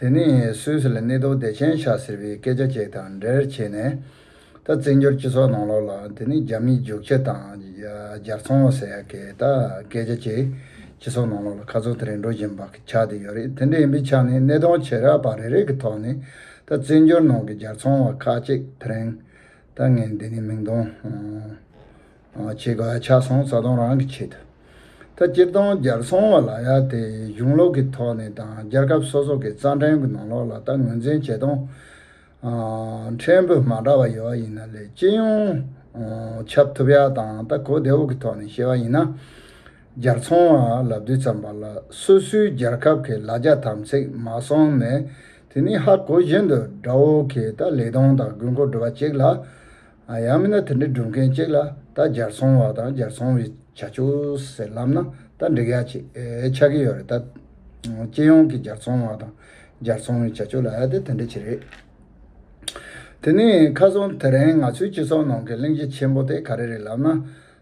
དེ་ནི་སུད་སི་ལ་གནས་སྡོད་བདེ་ཆེན་ཤག་ཟེར་བའི་སྐད་ཆ་ཅིག་དང་འབྲེལ་བྱས་ནས། ད་བཙན་བྱོལ་སྤྱི་ཚོགས་ནང་ལོགས་ལ་དེ་ནི་རྒྱ་མིའི་རྒྱུགས་ཁྱི་དང་སྦྱར་ཚང་ལོ་ཟེར་ཡ་གི་ད་སྐད་ཆ་ཅིག་སྤྱི་ཚོགས་ནང་ལོགས་ལ་ཁ་ཚུགས་དེ་རིང་འགྲོ་བཞིན་པ་གི་ཆགས་དེ་ཡོད་རེད་དེ་འདྲ་ཡིན་པའི་ཆ་ནས་གནས་སྟངས་བྱེ་བྲག་པ་རེ་རེ་གི་ཐོག་ནས་ད་བཙན་བྱོལ་ནང་གི་སྦྱར་ཚང་བ་ཁག་ཅིག་དེ་རིང་ད་ངས་འདི་ནས་མིང་དོན། བྱེད་ག་ཆ་སོང་རྩ་སྟོང་རང་གི་ཆེད་དུ། ད་སྤྱིར་བཏང་སྦྱར་སོང་བ་ལ་ཡ་དེ་གཞུང་ལོག་གི་ཐོག་ནས་དང་སྦྱར་སྐབས་སོ་སོ་གི་རྩ་འགྲེལ་གྱི་ནང་ལོག་ལ་ལྟ་ངོས་འཛིན་བྱེད་སྟངས་ཕྲན་བུ་མ་འདྲ་བ་ཡོད་པ་ཡིན་ན་ལས་སྤྱི་ཡོངས་ཁྱབ་ཐུབ་ཡ་དང་ལྟ་གོ་བདེ་བོ་གི་ཐོག་ནས་བཤད་པ་ཡིན་ན། སྦྱར་ཚོང་བ་ལབ་དུས་ཙམ་པ་ལ་སོ་སོའི་སྦྱར་ཁབ་ཀྱི་ལ་རྒྱ་དམ་ཚིག་མ་སོང་ནས་དེ་ནི་ཧ་གོ་བཞིན་དུ་དགྲ་བོ་གིས་ད་ལེགས་གདོང་དང་དགུན་འཁོར་སྒྲུབ་པ་ཅིག་ལ། ཡང་མིན་ན་དེ་འདྲ་སྒྲུབ་མཁན་གཅིག་ལ་རྟ་འབྱར་སོང་བ་དང་འབྱར་སོང་བའི་བྱ་སྤྱོད་ཟེར་ལབ་ན་རྟ་འབྲེག་ཡག་ཅེས་ཆགས་ཀྱི་ཡོད་རེད་ད། སྤྱི་ཡོངས་ཀྱི་འབྱར་སོང་བ་དང་འབྱར་སོང་བའི་བྱ་སྤྱོད་ལ་ཨ་དེ་དེ་འདྲ་ཅི་རེད། དེ་ནས་ཁ་སང་དེ་རིང་ང་ཚོའི་སྤྱི་ཚོགས་ནང་གི་གླེང་གཞི་ཆེན་པོ་དེ་ག་རེ་རེད་ལབ་ན།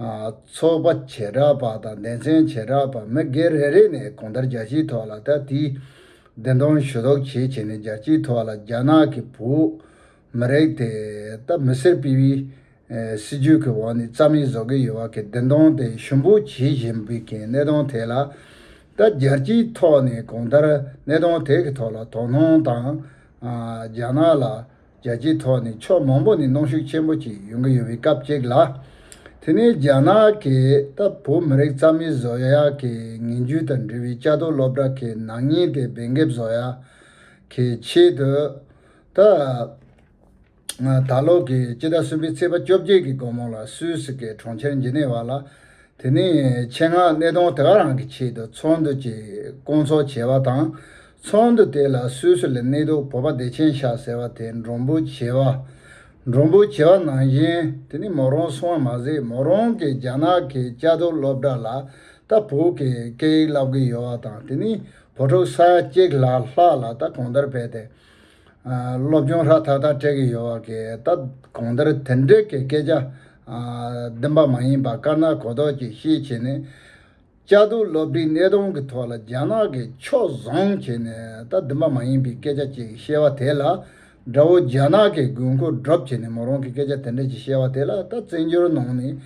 ཚོགས་པ་བྱེ་བྲག་པ་དང་སྡེ་ཚན་བྱེ་བྲག་པ་མི་སྒེར་རེ་རེ་ནས་གོང་ལྟར་རྒྱལ་སྤྱིའི་ཐོག་ལ་ད་ལྟའི་བདེན་སྟོང་ཞུ་དོགས་བྱེད་བྱེད་ནས་རྒྱལ་སྤྱིའི་ཐོག་ལ་རྒྱ་ནག་གི་བོད་མི་རིགས་དེ་ད་མི་སེར་སྤེལ་བའི་སྲིད་ཇུས་ཀྱི་འོག་ནས་རྩ་མེད་བཟོ་གི་ཡོད་བ་གི་བདེན་སྟོང་དེ་ཞུམ་པོ་བྱེད་བཞིན་པའི་གི་གནས་སྟོང་དེ་ལ་ད་རྒྱལ་སྤྱིའི་ཐོག་ནས་གོང་ལྟར་གནས་སྟོང་དེ་གི་ཐོག་ལ་དོ་སྣང་དང་རྒྱ་ནག་ལ། རྒྱལ་སྤྱིའི་ཐོག་ནས་ཕྱོགས་མང་པོ་ནས་གནོང་ཤུགས་ཆེན་པོ་ཅིག་ཡོང་གི་ཡོད་པའི་སྐབས་ཅིག་ལ། དེ་ནི་རྒྱ་ནག་གིས་ལྟ་བུ་མི་རིགས་རྩ་མེད་བཟོ་ཡག་གི་ངན་རྒྱུ་དང་འབྲེལ་བའི་ལྕགས་རྡོ་སློབ་གྲྭ་གི་ནག་ཉེས་དེ་འབེན་འགེབས་བཟོ་ཡག་གི་ཆེད་དུ། ད་ལོ་གི་སྤྱི་ཟླ་གསུམ་པའི་ཚེས་པ་བཅོ་བརྒྱད་ཀྱི་དགོང་མོ་ལ་སུད་སི་གི་གྲོང་ཁྱེར་ཇི་ནེ་ཝ་ལ། དེ་ནི་ཆེད་མངགས་གནས་སྟངས་དེ་ག་རང་གི་ཆེད་དུ་ཚོགས་འདུ་ཅིག་བསྐོང་ཚོགས་བྱས་པ་དང་ཚོགས་འདུ་དེ་ལ་སུད་སི་ལི་ནེ་ཏོ་བོ་པ་བདེ་ཆེན་ཤག་ཟེར་བ་དེ་འབྲོང་བུ་བྱེ་བ། འབྲོང་བུ་བྱེ་བ་ནང་བཞིན་དེ་ནི་མོ་རོང་སོང་བ་མ་ཟད་མོ་རོང་གི་རྒྱ་ནག་གི་བཅའ་སྡོད་སློབ་གྲྭ་ལ་ད་བོད་ཀྱི་སྐད་ཡིག་བསླབ་གི་ཡོད་བ་དང་དེ་ནི་བོད་ཕྲུག་ས་ཡ་གཅིག་ལྷག་ལྷག་ལ་ད་གོང་ལྟར་བས་ཏེ། སློབ་སྦྱོང་ཧྲ་ཐག་ཐག་སྤྲད་གི་ཡོད་བ་གས་ད་གོང་ལྟར་དེ་འདྲས་ཀྱི་སྐད་ཆ་བདེན་པ་མ་ཡིན་པ་དཀར་ནག་གོ་ལྡོག་ཅིག་ཤེས་བྱེད་ནི། བཅའ་སྡོད་སློབ་འབྲིང་སྣེ་གདོང་གི་ཐོག་ལ་རྒྱ་ནག་གིས་ཕྱོགས་བཟུང་བྱས་ནས་ད་བདུན་པ་མ་ཡིན་པའི་སྐད་ཆ་བཅས་ཀྱི་བཤད་བ་དེ་ལ་དགྲ་བོ་རྒྱ་ནག་གི་དགོས་མཁོ་སྒྲུབ་བྱས་ནས་མོ་རང་གི་སྐད་ཆ་དེ་འདྲ་ཅིག་བཤད་བ་དེ་ལ་ད་བཙན་བྱོལ་ནང་ནས་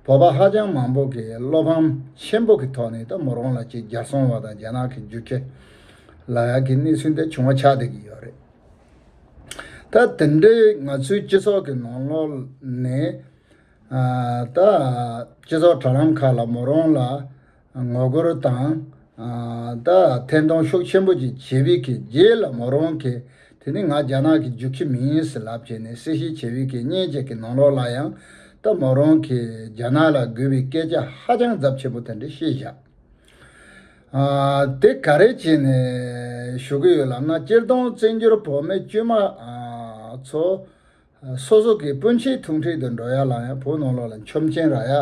བོད་པ་ཧ་ཅང་མང་པོ་གིས་བློ་ཕམ་ཆེན་པོ་གི་ཐོག་ནས་ད་མོ་རང་ལ་ཅིག་རྒྱར་སོང་བ་དང་རྒྱ་ནག་གི་རྒྱུ་ཁྱི་ལ་ཡག་གི་གནས་ཚུལ་འདི་བྱུང་བ་ཆགས་བསྡད་ཀྱི་ཡོད་རེད། ད་དེ་འདྲའི་ང་ཚོའི་སྤྱི་ཚོགས་ཀྱི་ནང་ལོག་ནས། ད། སྤྱི་ཚོགས་དྲ་ལམ་ཁག་ལ་མོ་རང་ལ་ངོ་རྒོལ་དང། ད་ཐེང་གདོང་ཤུགས་ཆེན་པོ་ཅིག་བྱེད་བི་ཁི་རྗེས་ལ་མོ་རང་གིས་དེ་ནི་ང་རྒྱ་ནག་གི་རྒྱུག་ཁྱི་མི་ཡིན་ཟེར་ལབ་བྱས་ནས་གསལ་བཤད་བྱེད་བི་ཁི་སྙན་བརྒྱད་ཀྱི་ནང་ལོགས་ལ་ཡང་ད་མོ་རང་གིས་རྒྱ་ནག་ལ་དགོས་བི་སྐད་ཆ་ཧ་ཅང་རྫབ་ཆེན་པོ་དེ་འདྲ་བཤད་བཞག་དེ་ག་རེ་བྱས་ནས་བཞུགས་གི་ཡོད་ལབ་ན་སྤྱིར་བཏང་བཙན་འགྱུར་བོད་མི་དཀྱུས་མ་ཚོ་སོ་སོ་གི་སྤུན་མཆེད་ཐུག་འཕྲད་དུ་འགྲོ་ཡ་ལང་ཡ་བོ་ནོར་ལོག་ལ་མཆོམ་ཆེན་རག་ཡ་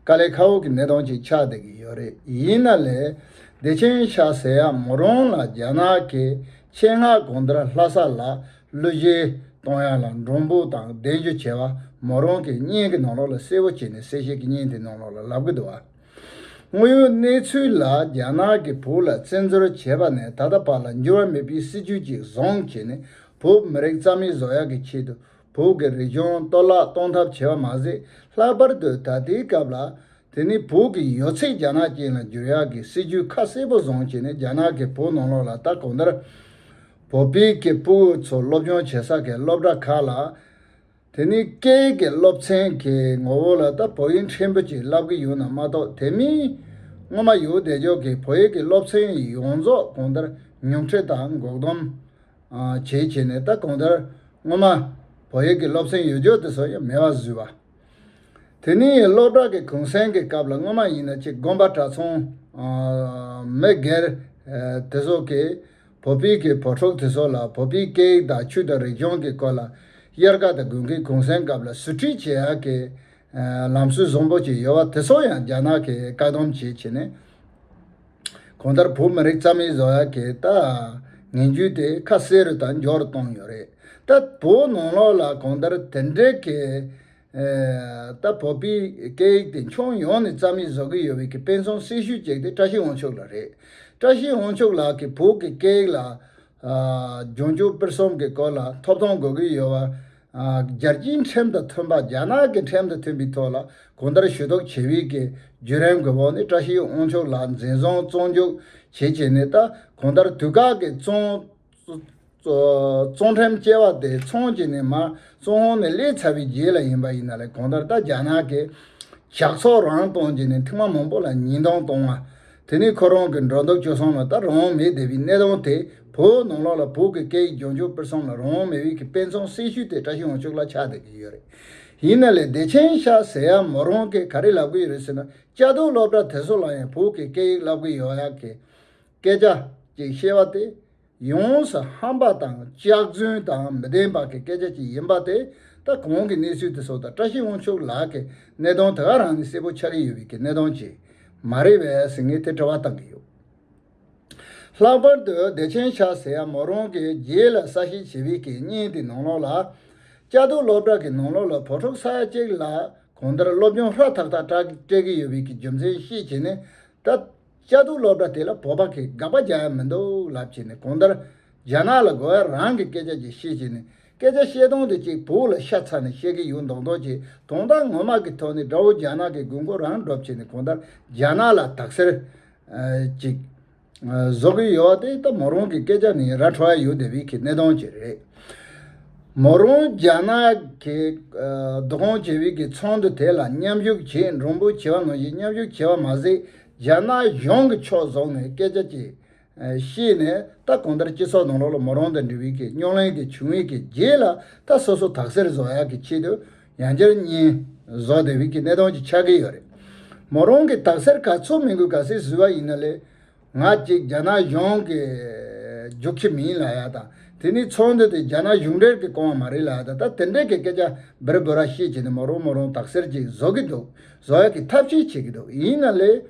དཀའ་ལས་ཁ་འོག་གི་ནད་གདོན་ཅིག་ཆགས་བསྡད་ཀྱི་ཡོད་རེད་ཡིན་ན་ལས་བདེ་ཆེན་ཤ་ཟེ་ཡག་མོ་རོང་ལ་རྒྱ་ནག་གི་ཆེད་མངགས་དགོང་དར་ལྷ་ས་ལ་གླུ་གཞས་གཏོང་ཡ་ལ་འབྲོང་བུ་དང་བདེན་རྒྱུ་བྱེད་བ་མོ་རོང་གི་བརྙན་གི་ནོར་ལོག་ལ་གསལ་བོ་བྱས་ནས་གསལ་བཤད་ཀྱི་བརྙན་དེ་ནོར་ལོག་ལ་ལབ་ཀྱི་འདུག་བ། དངོས་ཡོད་གནས་ཚུལ་ལ་རྒྱ་ནག་གིས་བོད་ལ་བཙན་འཛུལ་བྱས་པ་ནས་ད་ལྟ་བར་ལ་འགྱུར་བ་མེད་པའི་སྲིད་ཇུས་ཅིག་བཟུང་བྱས་ནས་བོད་མི་རིགས་རྩ་མེད་བཟོ་ཡག་གི་ཆེད་དུ་བོད་ཀྱི་རིག་གཞུང་གཏོར་བརླག་གཏོང་ཐབས་བྱས་པ་མ་ཟད་ལྷག་པར་དུ་ད་ལྟའི་སྐབས་ལ། དེ་ནི་བོད་ཀྱི་ཡོད་ཚད་རྒྱ་ནག་ཅན་ལ་འགྱུར་ཡག་གི་སྲིད་ཇུས་ཁ་གསལ་པོ་བཟུང་བྱས་ནས་རྒྱ་ནག་གིས་བོད་ནང་ལོགས་ལ་ལྟ་གོང་ལྟར། བོད་པའི་ཀྱི་བུ་ཚོ་སློབ་སྦྱོང་བྱེད་ས་གའི་སློབ་གྲྭ་ཁག་ལ། དེ་ནི་སྐད་ཡིག་གི་སློབ་ཚན་གྱི་ངོ་བོ་ལ་ལྟ་བོ་ཡིན་ཕྲན་བུ་ཅིག་བསླབ་ཀྱི་ཡོད་ན་མ་གཏོགས་དེ་མིན། སྔོན་མ་ཡུའུ་བདེ་མཆོག་གིས་བོད་ཡིག་གི་སློབ་ཚན་ཡོངས་རྫོགས་གོང་ལྟར་ཉུང་འཕྲི་དང་འགོག་སྡོམ། བྱས་བྱས་ནས་ད་གོང་ལྟར་སྔོན་མ། བོད་ཡིག་གི་སློབ་ཚན་ཡོད་འཇོག་དེ་སོགས་ཡང་མེད་པར་བཟོས་པ། དེ་ནི་སློབ་གྲྭ་གི་གུང་སེང་གི་སྐབས་ལ་སྔོན་མ་ཡིན་ན་ཅིག་དགོན་པ་གྲྭ་ཚོང། མི་སྒེར། དེ་སོགས་ཀྱིས་བོད་པའི་གི་བོད་ཕྲུག་དེ་ཚོ་ལ་བོད་པའི་སྐད་ཡིག་དང་ཆོས་དང་རིག་གཞུང་གི་སྐོར་ལ་གཡེར་ཁ་དང་དགུན་ཁའི་གུང་སེང་སྐབས་ལ་ཟུར་ཁྲིད་བྱེད་ཡག་གི་ལམ་སྲོལ་བཟང་པོ་ཅིག་ཡོད་བ་དེ་ཚོ་ཡང་རྒྱ་ནག་གི་བཀག་སྡོམ་བྱེད་བྱེད་ནས་གོང་ལྟར་བོད་མི་རིགས་རྩ་མེད་བཟོ་ཡག་གི་ལྟ་ངན་རྒྱུད་དེ་ཁ་གསལ་རུ་དང་མགྱོགས་རུ་གཏོང་ཡོད་རེད་ད་བོད་ནང་ལོགས་ལ་གོང་ལྟར་དེ་འདྲའི་གི་ལྟ་བུ་པའི་སྐད་ཡིག་དེ་ཕྱོགས་ཡོངས་ནས་རྩ་མེད་བཟོ་གི་ཡོད་བའི་ཀྱི་དཔེ་མཚོན་གསལ་ཤོས་གཅིག་དེ་བཀྲ་ཤིས་དབང་ཕྱུག་ལགས་རེད། བཀྲ་ཤིས་དབང་ཕྱུག་ལགས་ཀྱིས་བོད་ཀྱི་སྐད་ཡིག་ལ། འབྱུང་འགྱུར་དཔེར་གསུམ་གྱི་སྐོར་ལ་ཐོབ་ཐང་དགོས་ཀྱི་ཡོད་བར། རྒྱལ་སྤྱིའི་ཁྲིམས་དང་མཐུན་པ་རྒྱ་ནག་གི་ཁྲིམས་དང་མཐུན་པའི་ཐོག་ལ་གོང་ལྟར་ཞུ་གཏུག་བྱེད་བའི་ཀྱི་བརྒྱུད་རིམ་དགོས་པ་ནི་བཀྲ་ཤིས་དབང་ཕྱུག་ལགས་འཛིན་བཟུང་བཙོན་འཇུག་བྱེད་བྱེད་ནས་ད་གོང་ལྟར་དུས་བཀག་གི་བཙོན། ཙོང་ཁྲེམ་སྐྱེ་བ་དེ་ཚོང་ཅི་ནི་མ་ཙོང་ཧོང་ནི་ལས་ཚ་བའི་རྗེས་ལ་ཡིན་པ་ཡིན་ན་ལས་གོང་ལྟར་ལྟ་རྒྱ་ནག་གི་ཞག་ཚོགས་རང་གཏོང་ཅི་ནི་ཐིག་མ་མང་པོ་ལ་ཉིན་གཏོང་གཏོང་བ་དེ་ནི་ཁོ་རང་གི་འགྲོ་འདུག་སྤྱོད་བསྲང་ལ་ལྟ་རང་དབང་མེད་བསྡད་པའི་གནས་སྟངས་དེ་བོད་ནང་ལོགས་ལ་བོད་ཀྱི་སྐད་ཡིག་སྦྱོང་སྤྱོད་སྤེལ་བསམ་ལ་རང་དབང་མེད་བས་ཀྱི་དཔེ་མཚོན་གསལ་ཤོས་དེ་བཀྲ་ཤིས་དབང་ཕྱུག་ལ་ཆགས་བསྡད་ཀྱི་ཡོད་རེད་ཡིན་ན་ལས་བདེ་ཆེན་ཤ་ཟེ་ཡ་མོ་རང་གིས་ག་རེ་ལབ་ཀྱི་ཡོད་རེད་ཟེར་ན་བཅའ་སྡོད་སློབ་གྲྭ་དེ་ཚོ་ལ་ཡང་བོད་ཀྱི་སྐད་ཡིག་བསླབ་ཀྱི་ཡོད་ཡ་གི། སྐད་ཆ་ཅིག་བཤད་པ་དེ་ཡོངས་སུ་ཧམ་པ་དང་སྐྱག་རྫུན་དང་མི་བདེན་པ་གི་སྐད་ཆ་ཅིག་ཡིན་པ་དེ་ད་གོང་གི་གནས་ཚུལ་དེ་སོགས་དང་བཀྲ་ཤིས་དབང་ཕྱུག་ལགས་ཀྱི་གནས་སྟངས་དེ་ག་རང་ནས་གསལ་པོ་ཆགས་ཀྱི་ཡོད་པའི་གི་གནས་སྟངས་ཅིག་མ་རེད་བས་ཟིན་ངས་དེ་དྲི་བ་བཏང་གི་ཡོད། ལྷག་པར་དུ་བདེ་ཆེན་ཤག་ཟེར་ཡ་མོ་རང་གི་རྗེས་ལ་ས་ཞིག་བྱེད་པའི་གི་གཉིས་དེ་ནང་ལོགས་ལ། བཅའ་སྡོད་སློབ་གྲྭ་གི་ནང་ལོགས་ལ་བོད་ཕྲུག་ས་ཡ་གཅིག་ལ་གང་ལྟར་སློབ་སྦྱོང་ཧྲ་ཐག་ཐག་སྤྲད་ཀྱི་ཡོད་པའི་གི་རྒྱུ་མཚན་ཤེས་བྱས་ནས་ད། དཔྱད་བསྡུར་སློབ་གྲྭ་དེ་ལ་བོད་པ་གིས་དགག་པ་རྒྱག་ཡ་མི་འདུག་ལབ་བྱས་ནས་གོང་ལྟར་རྒྱ་ནག་ལ་དགོས་ཡ་རང་གི་སྐད་ཆ་གྱིས་བཤད་བྱས་ནས་སྐད་ཆ་བཤད་སྟངས་དེ་གཅིག་བུ་ལ་ཤ་ཚ་ནས་བཤད་གི་ཡོད་མདོག་མདོག་བྱས་དོན་དག་ངོ་མ་གི་ཐོག་ནས་དགྲ་བོ་རྒྱ་ནག་གི་དགོས་མཁོ་རང་སྒྲུབ་བྱས་ནས་གོང་ལྟར་རྒྱ་ནག་ལ་དག་སེལ། ཅིག། བཟོ་གི་ཡོད་བ་དེ་ད་མོ་རང་གི་སྐད་ཆ་ནི་ར་འཕྲོ་ཡ་ཡོད་དེ་བས་ཁི་གནས་སྟངས་ཅིག་རེད། མོ་རང་རྒྱ་ནག་གི་རྡོ་ཁང་བྱེད་བས་ཀི་ཚང་དུ་དེ་ལ་མཉམ་ཞུགས་བྱས་འགྲོ་འབུ་བྱེད་བ་ནང་བཞིན་མཉམ་ཞུགས་བྱས་བ་མ་ཟད་རྒྱ་ནག་གཞུང་གིས་ཕྱོགས་བཟུང་ནས་སྐད་ཆ་གཅིག་བཤད་ནས་ད་གང་ལྟར་སྤྱི་ཚོགས་ནང་ལོག་ལ་མོ་རང་དང་འབྲེལ་བའི་གི་རྙོག་གླེང་དེ་བྱུང་བའི་གི་རྗེས་ལ་ད་སོ་སོ་དག་གསེར་བཟོ་ཡག་གི་ཆེད་དུ་ཡང་བསྐྱར་བསྙེན་བཟོ་དེ་བས་གི་གནས་སྟངས་ཅིག་ཆགས་གི་ཡོད་རེད། མོ་རང་གིས་དག་གསེར་ག་ཚོད་མིན་དགོས་ག་ཟེ་བཟོས་བ་ཡིན་ན་ལས་ང་གཅིག་རྒྱ་ནག་གཞུང་གི་རྒྱུགས་ཁྱི་མིན་ལ་ཡག་དང་དེ་ནས་ཚོགས་འདུ་དེ་རྒྱ་ནག་གཞུང་འབྲེལ་གི་བསྐོང་བ་མ་རེད་ལ་ཡག་དང་ད་དེ་འདྲས་གི་སྐད་ཆ་འབེར་དགོས་ར་ཤེས་བྱས་ནས་མོ་རང་མོ་རང་དག་གསེར་ཅིག་བཟོ་གི་འདུག་བཟོ་གི་ཐབས་ཤེས་བྱེད་ཀྱི་འདུག་ཡིན་ན་ལས།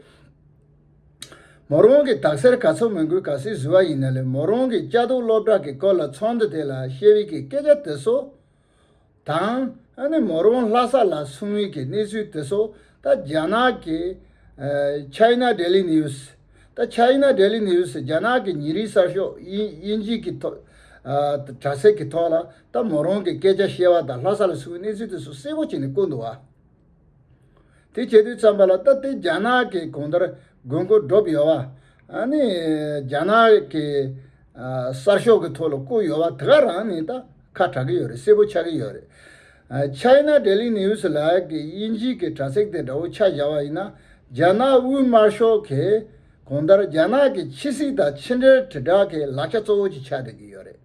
མོ་རང་གི་དག་སེལ་ག་ཚོད་མི་འགུལ་ག་སེ་བཟི་བ་ཡིན་ན་ལས་མོ་རང་གི་དཔྱ་དོག་སློབ་གྲགས་ཀྱི་སྐོར་ལ་ཚོགས་འདུ་དེ་ལ་ཤེས་བྷི་ཀྱི་སྐད་ཆ་དེ་སོ། དང། ཨ་ནི་མོ་རང་ལྷ་ས་ལ་སོང་བྷི་ཀྱི་གནས་ཚུལ་དེ་སོ། ད་རྒྱ་ནག་གི། China Daily News། ད China Daily News རྒྱ་ནག་གི་ཉིན་རིགས་གསར་ཤོག་དབྱིན་ཇི་གི་ཐོག། དྲ་ཚིགས་ཀྱི་ཐོག་ལ་ད་མོ་རང་གི་སྐད་ཆ་བཤད་བ་དང་ལྷ་ས་ལ་སོང་བྷི་གནས་ཚུལ་དེ་སོ་གསལ་པོ་བྱས་ནས་བཀོད་འདུག་བ། དེ་བྱེད་དུས་བརྩམས་པ་ལ་སྟབས་བདེ་རྒྱ་ནག་གི་གོང་ལྟར་དགོས་མཁོ་བསྒྲུབས་ཡོད་པ། ནི་རྒྱ་ནག་གི་གསར་ཤོག་གི་ཐོག་ལ་བསྐུར་ཡོད་པ་དེ་ག་རང་ནི་ད་ཁ་གྲག་གི་ཡོད་རེད་གསལ་པོ་ཆགས་ཀྱི་ཡོད་རེད། China Daily News ལགས་ཀྱི་དབྱིན་ཇི་གི་དྲ་ཚིགས་དེ་འདྲ་བོ་ཆ་བཞག་པ་ཡིན་ན་རྒྱ་ནག་དབུས་དམར་ཤོག་གི་གོང་ལྟར་རྒྱ་ནག་གི་ཕྱི་སྲིད་དང་ཕྱི་འབྲེལ་དྲིལ་བསྒྲགས་ཀྱི་ལག་ཆ་གཙོ་བོ་ཅིག་ཆགས་སྡོད་ཀྱི་ཡོད་རེད།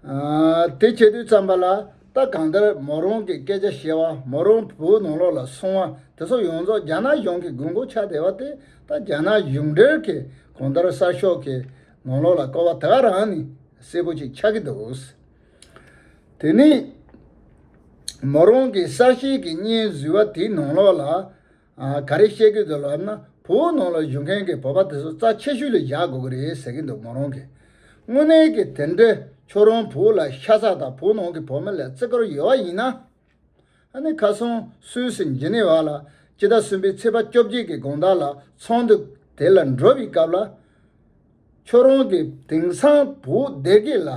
དེ་བྱེད་དུས་བརྩམས་པ་ལ་ལྟ་གང་ལྟར་མོ་རང་གི་སྐད་ཆ་བཤད་བ་མོ་རང་བོད་ནང་ལོགས་ལ་སོང་བ་དེ་ཚོ་ཡོངས་རྫོགས་རྒྱ་ནག་གཞུང་གི་དགོས་མཁོ་ཆགས་བསྡད་པ་དེ་ད་རྒྱ་ནག་གཞུང་འབྲེལ་གྱིས་གང་ལྟར་གསར་ཤོག་གི་ནང་ལོགས་ལ་བཀོལ་བ་དེ་ག་རང་ནི་གསལ་པོ་ཅིག་ཆགས་ཀྱི་འདུག་དེ་ནི་མོ་རང་གི་གསར་བཤད་ཀྱི་སྙན་བཟོས་བ་དེའི་ནང་ལོགས་ལ་ག་རེ་བཤད་གི་འདུག་ལབ་ན་བུ་བོ་ནང་ལ་བཞུགས་མཁན་གྱི་བོད་པ་དེ་ཚོ་རྩ་ཆེ་ཤོས་ལ་བཞག་དགོས་ཀྱི་རེད་ཟེར་གྱི་འདུག་མོ་རང་གིས་དངོས་གནས་ཀྱི་དེ་འདྲའི་ཁྱོད་རང་བུ་ལ་ཤ་ཚ་དང་བུ་ནང་གི་བོད་མི་ལ་བརྩི་བཀུར་ཡོད་བ་ཡིན་ན། ཨ་ནི་ཁ་སང་སུད་སི་འཇི་ནི་བ་ལ་སྤྱི་ཟླ་གསུམ་པའི་ཚེས་པ་བཅོ་བརྒྱད་ཀྱི་དགོང་དག་ལ་ཚོགས་འདུ་དེ་ལ་འགྲོ་བའི་སྐབས་ལ། ཁྱོད་རང་གིས་དེང་སང་བུ་སྡེ་དགེ་ལ་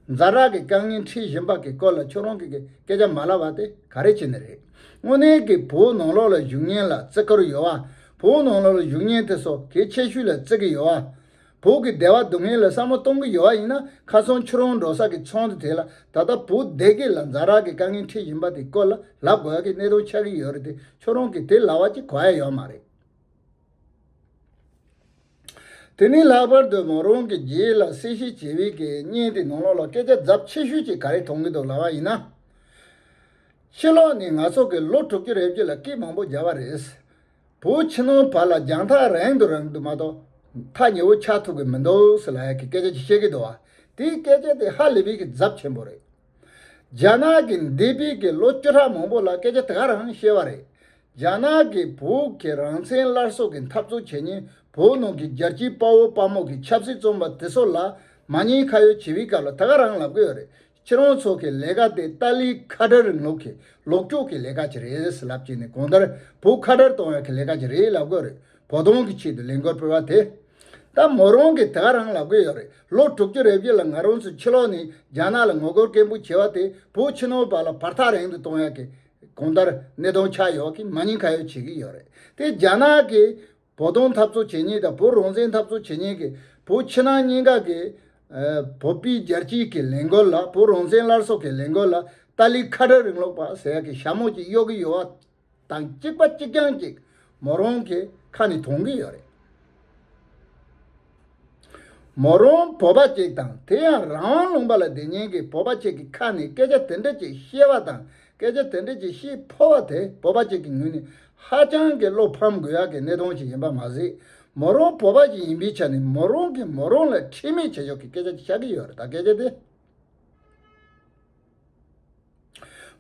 འཛའ་རག་གི་དཀའ་ངལ་འཕྲད་བཞིན་པ་གི་སྐོར་ལ་ཁྱོད་རང་གིས་སྐད་ཆ་མ་ལབ་བ་དེ་ག་རེ་བྱས་ནས་རེད། དངོས་གནས་ཀྱི་བུ་ནང་ལོག་ལ་བཞུགས་ཉེན་ལ་བརྩི་བཀུར་ཡོད་བ། བུ་ནང་ལོག་ལ་བཞུགས་ཉེན་དེ་སོ་གེ་ཆེ་ཤོས་ལ་བརྩི་གི་ཡོད་བ། བུ་གི་བདེ་བ་སྡུག་བསྔལ་ལ་བསམ་བློ་གཏོང་གི་ཡོད་བ་ཡིན་ན་ཁ་སང་ཁྱོད་རང་འགྲོ་ས་གི་ཚོང་དེ་དེ་ལ་ད་ལྟ་བུ་སྡེ་དགེ་ལ་འཛའ་རག་གི་དཀའ་ངལ་འཕྲད་བཞིན་པ་དེ་སྐོར་ལ་ལབ་དགོས་ཀྱི་གནད་དོན་ཆགས་ཀྱི་ཡོད་རེད་དེ་ཁྱོད་རང་གིས་དེ་ལབ་བ་ཅི་གོ་ཡ་ཡོད་མ་རེད། དེ་ནི་ལྷག་པར་དུ་མོ་རང་གི་རྗེས་ལ་གསལ་བཤད་བྱེད་པའི་གི་བརྙན་དེ་ནང་ལོགས་ལ་སྐད་ཆ་རྫབ་ཆེ་ཤོས་ཅིག་ག་རེ་མཐོང་གི་འདུག་ལབ་པ་ཡིན་ན། ཕྱི་ལོགས་ནས་ང་ཚོ་གི་ལོ་དྲུག་ཅུ་རེ་བརྒྱུད་ལ་སྐད་མང་པོ་རྒྱབ་པ་རེད། བོད་ཕྱི་ནང་བར་ལ་རྒྱང་ཐག་རིང་དུ་རིང་དུ་མ་གཏོགས་ཐག་ཉེ་བོ་ཆགས་ཐུབ་གི་མི་འདུག་སི་ལ་ཡ་གི་སྐད་ཆ་ཅིག་བཤད་གི་འདུག་བ་དེའི་སྐད་ཆ་དེ་ཧ་ལི་བི་གི་རྫབ་ཆེན་པོ་རེད། རྒྱ་ནག་གི་འདས་པའི་གི་ལོ་བཅུ་ཕྲག་མང་པོ་ལ་སྐད་ཆ་དེ་ག་རང་བཤད་བ་རེད། རྒྱ་ནག་གི་བོད་ཀྱི་རང་བཙན་སླར་གསོ་གི་འཐབ་རྩོད་བྱེད་ཉིན་བོད་ནང་གི་རྒྱལ་སྤྱིའི་དཔའ་བོ་དཔའ་མོ་གི་ཆབ་སྲིད་རྩོམ་པ་དེ་ཚོ་ལ་མ་ཉེས་ཁ་ཡོད་བྱེད་པའི་སྐབས་ལ་དེ་ག་རང་ལབ་གི་ཡོད་རེད་ཁྱེད་རང་ཚོ་གི་ལས་ཀ་དེ་ཏཱ་ལའི་ཁ་བྲལ་རིང་ལུགས་གི་ལོག་སྤྱོད་གི་ལས་ཀ་གྱི་རེད་ཟེར་ལབ་ཀྱིན་ནས་གོང་ལྟར་བོད་ཁ་བྲལ་གཏོང་ཡ་གི་ལས་ཀ་གྱི་རེད་ལབ་གི་ཡོད་རེད། བོ་སྟོང་གི་ཆེད་དུ་ལས་འགོ་སྤེལ་བ་དེ་ད་མོ་རང་གིས་དེ་ག་རང་ལ་དགོས་ཡོད་རེད་ལོ་དྲུག་ཅུ་རེ་བཞི་ལ་ང་རང་ཚོས་ཕྱི་ལོག་ནས་རྒྱ་ནག་ལ་ངོ་རྒོལ་སྐད་འབོད་བྱས་བ་དེ་བོད་ཕྱི་ནང་བར་ལ་བར་ཐག་རིང་དུ་གཏོང་ཡག་གི་གང་ལྟར་གནས་སྟངས་ཆགས་ཡོད་ཀི་མ་ཉན་ཁ་ཡོད་བྱེད་ཀི་ཡོད་རེད་དེ་རྒྱ་ནག་གིས་བོ་སྟོང་འཐབ་རྩོད་བྱེད་ཉེན་དང་བོད་རང་བཙན་འཐབ་རྩོད་བྱེད་ཉེན་གི་བོད་ཕྱི་ནང་གཉིས་ཀ་གི་བོད་པའི་རྒྱལ་སྤྱིའི་གི་ལས་འགོལ་ལ་བོད་རང་བཙན་སླར་གསོ་གི་ལས་འགོལ་ལ་ཏཱ་ལའི་ཁ་བྲལ་རིང་ལུགས་པ་ཟེར་ཡག་གི་ཞྭ་མོ་ཅིག་གཡོག་གི་ཡོད་བ་དང་གཅིག་པ་གཅིག་རྐྱང་གཅིག་མོ་རང་གི་ཁ་ནས་དོང་གི་ཡོད་རེད། མོ་རང་བོད་པ་གཅིག་དང་དེ་ཡང་རང་དབང་ལུང་པ་ལ་བདེ་ཉན་གི་བོད་པ་གཅིག་གི་ཁ་ནས་སྐད་ཆ་དེ་འདྲ་གཅིག་བཤད་པ་དང་སྐད་ཆ་དེ་འདྲ་གཅིག་བཤད་ཕོ་བ་དེ་བོད་པ་གཅིག་གི་ངོས་ནས་ཧ་ཅང་གི་བློ་ཕམ་དགོས་ཡག་གི་གནས་སྟོང་ཞིག་ཡིན་པ་མ་ཟད་མོ་རང་བོད་པ་ཞིག་ཡིན་པའི་ཆ་ནས་མོ་རང་གིས་མོ་རང་ལ་ཁྲེལ་མེད་བྱེད་ཕྱོགས་ཀྱི་སྐད་ཆ་གཅིག་བཤད་གི་ཡོད་རེད་ད་སྐད་ཆ་དེ།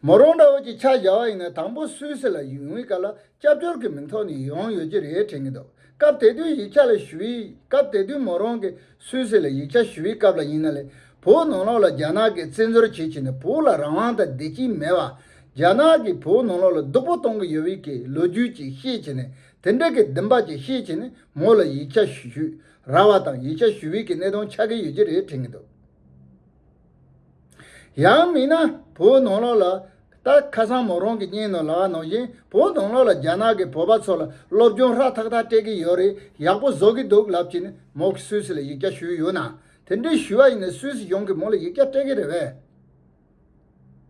མོ་རང་འདྲ་བོ་གཅིག་ཕྱག་བཞག་བ་ཡིན་ན་དང་པོ་སུད་སི་ལ་ཡུན་བའི་སྐབས་ལ་སྐྱབས་བཅོལ་གྱི་མིང་ཐོག་ནས་ཡོང་ཡོད་ཀྱི་རེད་དྲན་གྱི་འདུག་སྐབས་དེ་དུས་ཡིག་ཆ་ལ་ཞུ་བའི་སྐབས་དེ་དུས་མོ་རང་གིས་སུད་སི་ལ་ཡིག་ཆ་ཞུ་བའི་སྐབས་ལ་ཡིན་ན་ལས་བོད་ནང་ལོགས་ལ་རྒྱ་ནག་གིས་བཙན་འཛུལ་བྱེད་བྱེད་ནས་བོད་ལ་རང་དབང་དང་བདེ་སྐྱིད་མེད་བ། རྒྱ་ནག་གིས་བོད་ནང་ལོགས་ལ་སྡུག་པོ་གཏོང་གི་ཡོད་བའི་གི་ལོ་རྒྱུས་ཅིག་བཤད་བྱེད་ནས་དེ་འདྲ་གི་བདེན་པ་ཅིག་བཤད་བྱེད་ནས་མོ་ལ་ཡིག་ཆ་ཞུ་ར་བ་དང་ཡིག་ཆ་ཞུ་བའི་གི་གནད་དོན་ཆགས་ཀྱི་ཡོད་ཀྱི་རེད་དྲན་གྱི་འདུག། ཡང་མིན་ན་བོད་ནང་ལོགས་ལ། ད་ཁ་སང་མོ་རང་གི་སྙན་ནང་ལགས་ནང་བཞིན་བོད་ནང་ལོགས་ལ་རྒྱ་ནག་གི་བོད་པ་ཚོ་ལ་སློབ་སྦྱོང་ཧྲ་ཐག་ཐག་སྤྲད་ཀྱི་ཡོད་རེད་ཡག་པོ་བཟོ་གི་འདུག་ལབ་ཀྱིན་མོ་གི་སུད་སི་ལ་ཡིག་རྒྱ་ཞུས་ཡོད་ན་དེ་འདྲའི་ཞུས་བ་ཡིན་ན་སུད་སི་གཞུང་གིས་མོ་ལ་ཡིག་རྒྱ་སྤྲད་ཀྱི་རེད་བས་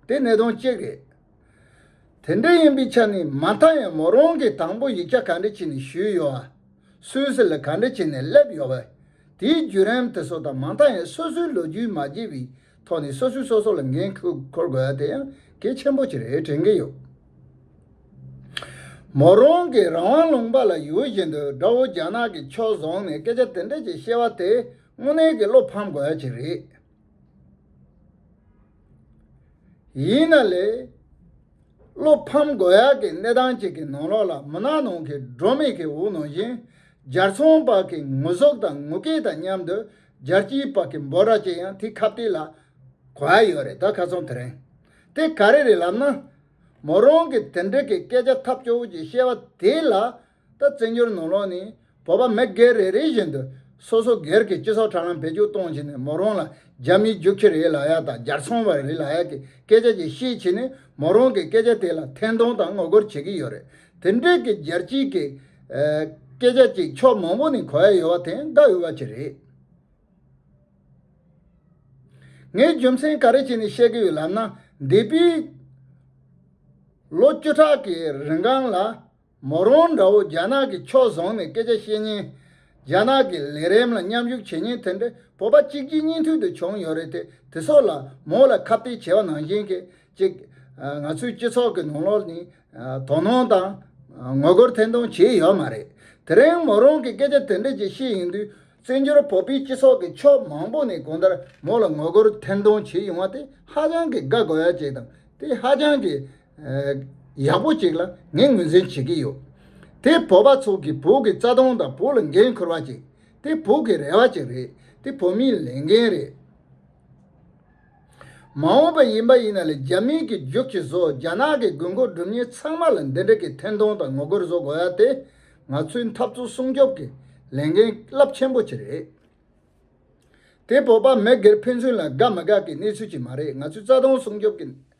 དེ་གནད་དོན་གཅིག་རེད། དེ་འདྲ་ཡིན་པའི་ཆ་ནས་མ་མཐའ་ཡང་མོ་རང་གིས་དང་པོ་ཡིག་ཆ་ག་འདྲ་བྱས་ནས་ཞུས་ཡོད་བ། སུའི་སེ་ལ་ག་འདྲ་བྱས་ནས་སླེབས་ཡོད་བ། དེའི་བརྒྱུད་རིམ་དེ་ཚོ་དང་མ་མཐའ་ཡང་སོ་སོའི་ལོ་རྒྱུས་མ་བརྗེས་པའི་ཐོག་ནས་སོ་སོས་སོ་སོ་ལ་འགན་འཁུར་དགོས་བ་དེ་ཡང་གལ་ཆེན་པོ་ཅིག་རེད་དྲན་གྱི་ཡོད། མོ་རང་གིས་རང་དབང་ལུང་པ་ལ་ཡོད་བཞིན་དུ་དགྲ་བོ་རྒྱ་ནག་གི་ཕྱོགས་བཟུང་ནས་སྐད་ཆ་དེ་འདྲ་ཅིག་བཤད་བ་དེ་དངོས་གནས་ཀྱི་བློ་ཕམ་དགོས་བ་ཅིག་རེད། ཡིན་ན་ལས། བློ་ཕམ་དགོས་ཡག་གི་གནས་སྟངས་ཅིག་གི་ནང་ལོགས་ལ་མུན་ནག་ནང་གི་སྒྲོན་མེ་གི་འུར་ནང་བཞིན་སྦྱར་ཚོང་པ་གི་ངུ་ཟོག་དང་ངུ་སྐད་དང་མཉམ་དུ་སྦྱར་སྐྱིད་པ་གི་འབོ་ར་ཅིག་ཡང་དེ་ཁ་བསྟི་ལ་གོ་ཡ་ཡོད་རེད་ད་ཁ་ཚོང་དེ་རིང་དེ་ག་རེ་རེད་ལབ་ན། མོ་རང་གི་དེ་འདྲི་གི་སྐད་ཆ་ཐབས་སྐྱོ་བོ་ཅིག་བཤད་བ་དེ་ལ་ད་བཙན་བྱོལ་ནང་ལོགས་ནས་བོད་པ་མི་སྒེར་རེ་རེ་བཞིན་དུ་སོ་སོ་སྒེར་གྱི་སྤྱི་ཚོགས་དྲ་ལམ་བེད་སྤྱོད་གཏོང་བྱེད་ནས་མོ་རང་ལ་རྒྱ་མིའི་རྒྱུག་ཁྱི་རེད་ལ་ཡ་དང་རྒྱར་ཚོང་བ་རེད་ལ་ཡ་གི་སྐད་ཆ་ཅིག་བཤད་བྱས་ནས་མོ་རང་གི་སྐད་ཆ་དེ་ལ་ཐེན་གཏོང་དང་ངོ་རྒོལ་བྱེད་ཀྱི་ཡོད་རེད་དེ་འདྲས་ཀྱི་རྒྱལ་སྤྱིའི་གི་སྐད་ཆ་ཅིག་ཕྱོགས་མང་པོ་ནས་གོ་ཡ་ཡོད་བ་དེ་དགའ་འོས་བ་ཅིག་རེད། ངས་རྒྱུ་མཚན་ག་རེ་བྱས་ནས་བཤད་ཀྱི་ཡོད་ལབ་ན་འདས་པའི་ལོ་བཅུ་ཕྲག་གི་རིང་གང་ལ། མོ་རོང་དགྲ་བོ་རྒྱ་ནག་གི་ཕྱོགས་བཟུང་ནས་སྐད་ཆ་བཤད་ཉིན། རྒྱ་ནག་གི་ལས་རེམ་ལ་མཉམ་ཞུགས་བྱེད་ཉིན་དེ་འདྲའི་བོད་པ་གཅིག་རྗེས་གཉིས་མཐུད་དུ་བྱུང་ཡོད་རེད་དེ་དེ་སོགས་ལ་མོ་ལ་ཁ་བརྡའི་བྱ་བ་ནང་བཞིན་གྱི་ཅིག། ང་ཚོའི་སྤྱི་ཚོགས་ཀྱི་ནང་ལོགས་ནས་དོ་སྣང་དང། ངོ་རྒོལ་ཐེང་ཐུང་བྱས་ཡོད་མ་རེད། དེ་རིང་མོ་རོང་གི་སྐད་ཆ་དེ་འདྲ་ཅིག་བཤད་ཡིན་དུས་བཙན་བྱོལ་བོད་པའི་སྤྱི་ཚོགས་ཀྱི་ཕྱོགས་མང་པོ་ནས་གང་ལྟར་མོ་ལ་ངོ་རྒོལ་ཐེང་ཐུང་བྱས་ཡོང་བ་དེ་ཧ་ཅང་གི་དགའ་དགོས་ཡ་ཅིག་དང་དེ་ཧ་ཅང་གི་ཡག་པོ་ཅིག་ལ་ངས་ངོས་འཛིན་བྱེད་ཀྱི་ཡོད། དེ་བོད་པ་ཚོ་གིས་བོད་ཀྱི་རྩ་དོན་དང་བོད་ལ་འགན་འཁུར་བ་ཅིག་དེ་བོད་ཀྱི་རེ་བ་ཅིག་རེད་དེ་བོད་མིའི་ལས་འགན་རེད། མ་འོངས་པ་ཡིན་པ་ཡིན་ན་ལས་རྒྱ་མིའི་གི་རྒྱུགས་ཁྱི་བཟོ་རྒྱ་ནག་གི་དགོས་མཁོ་སྒྲུབ་ཉེས་ཚང་མ་ལ་འདི་འདྲ་གི་འཐེན་ཐོང་དང་ངོ་རྒོལ་བཟོ་དགོས་ཡ་དེ་ང་ཚོའི་འཐབ་རྩོད་སྲུང་སྐྱོབ་ཀྱི་ལས་འགན་རླབས་ཆེན་པོ་ཅིག་རེད། དེ་བོད་པ་མི་སྒེར་ཕན་ཚུན་ལ་དགའ་མི་དགའ་གི་གནས་ཚུལ་ཅིག་མ་རེད་ང་ཚོའི་རྩ་དོན་སྲུང་སྐྱོབ་ཀྱི།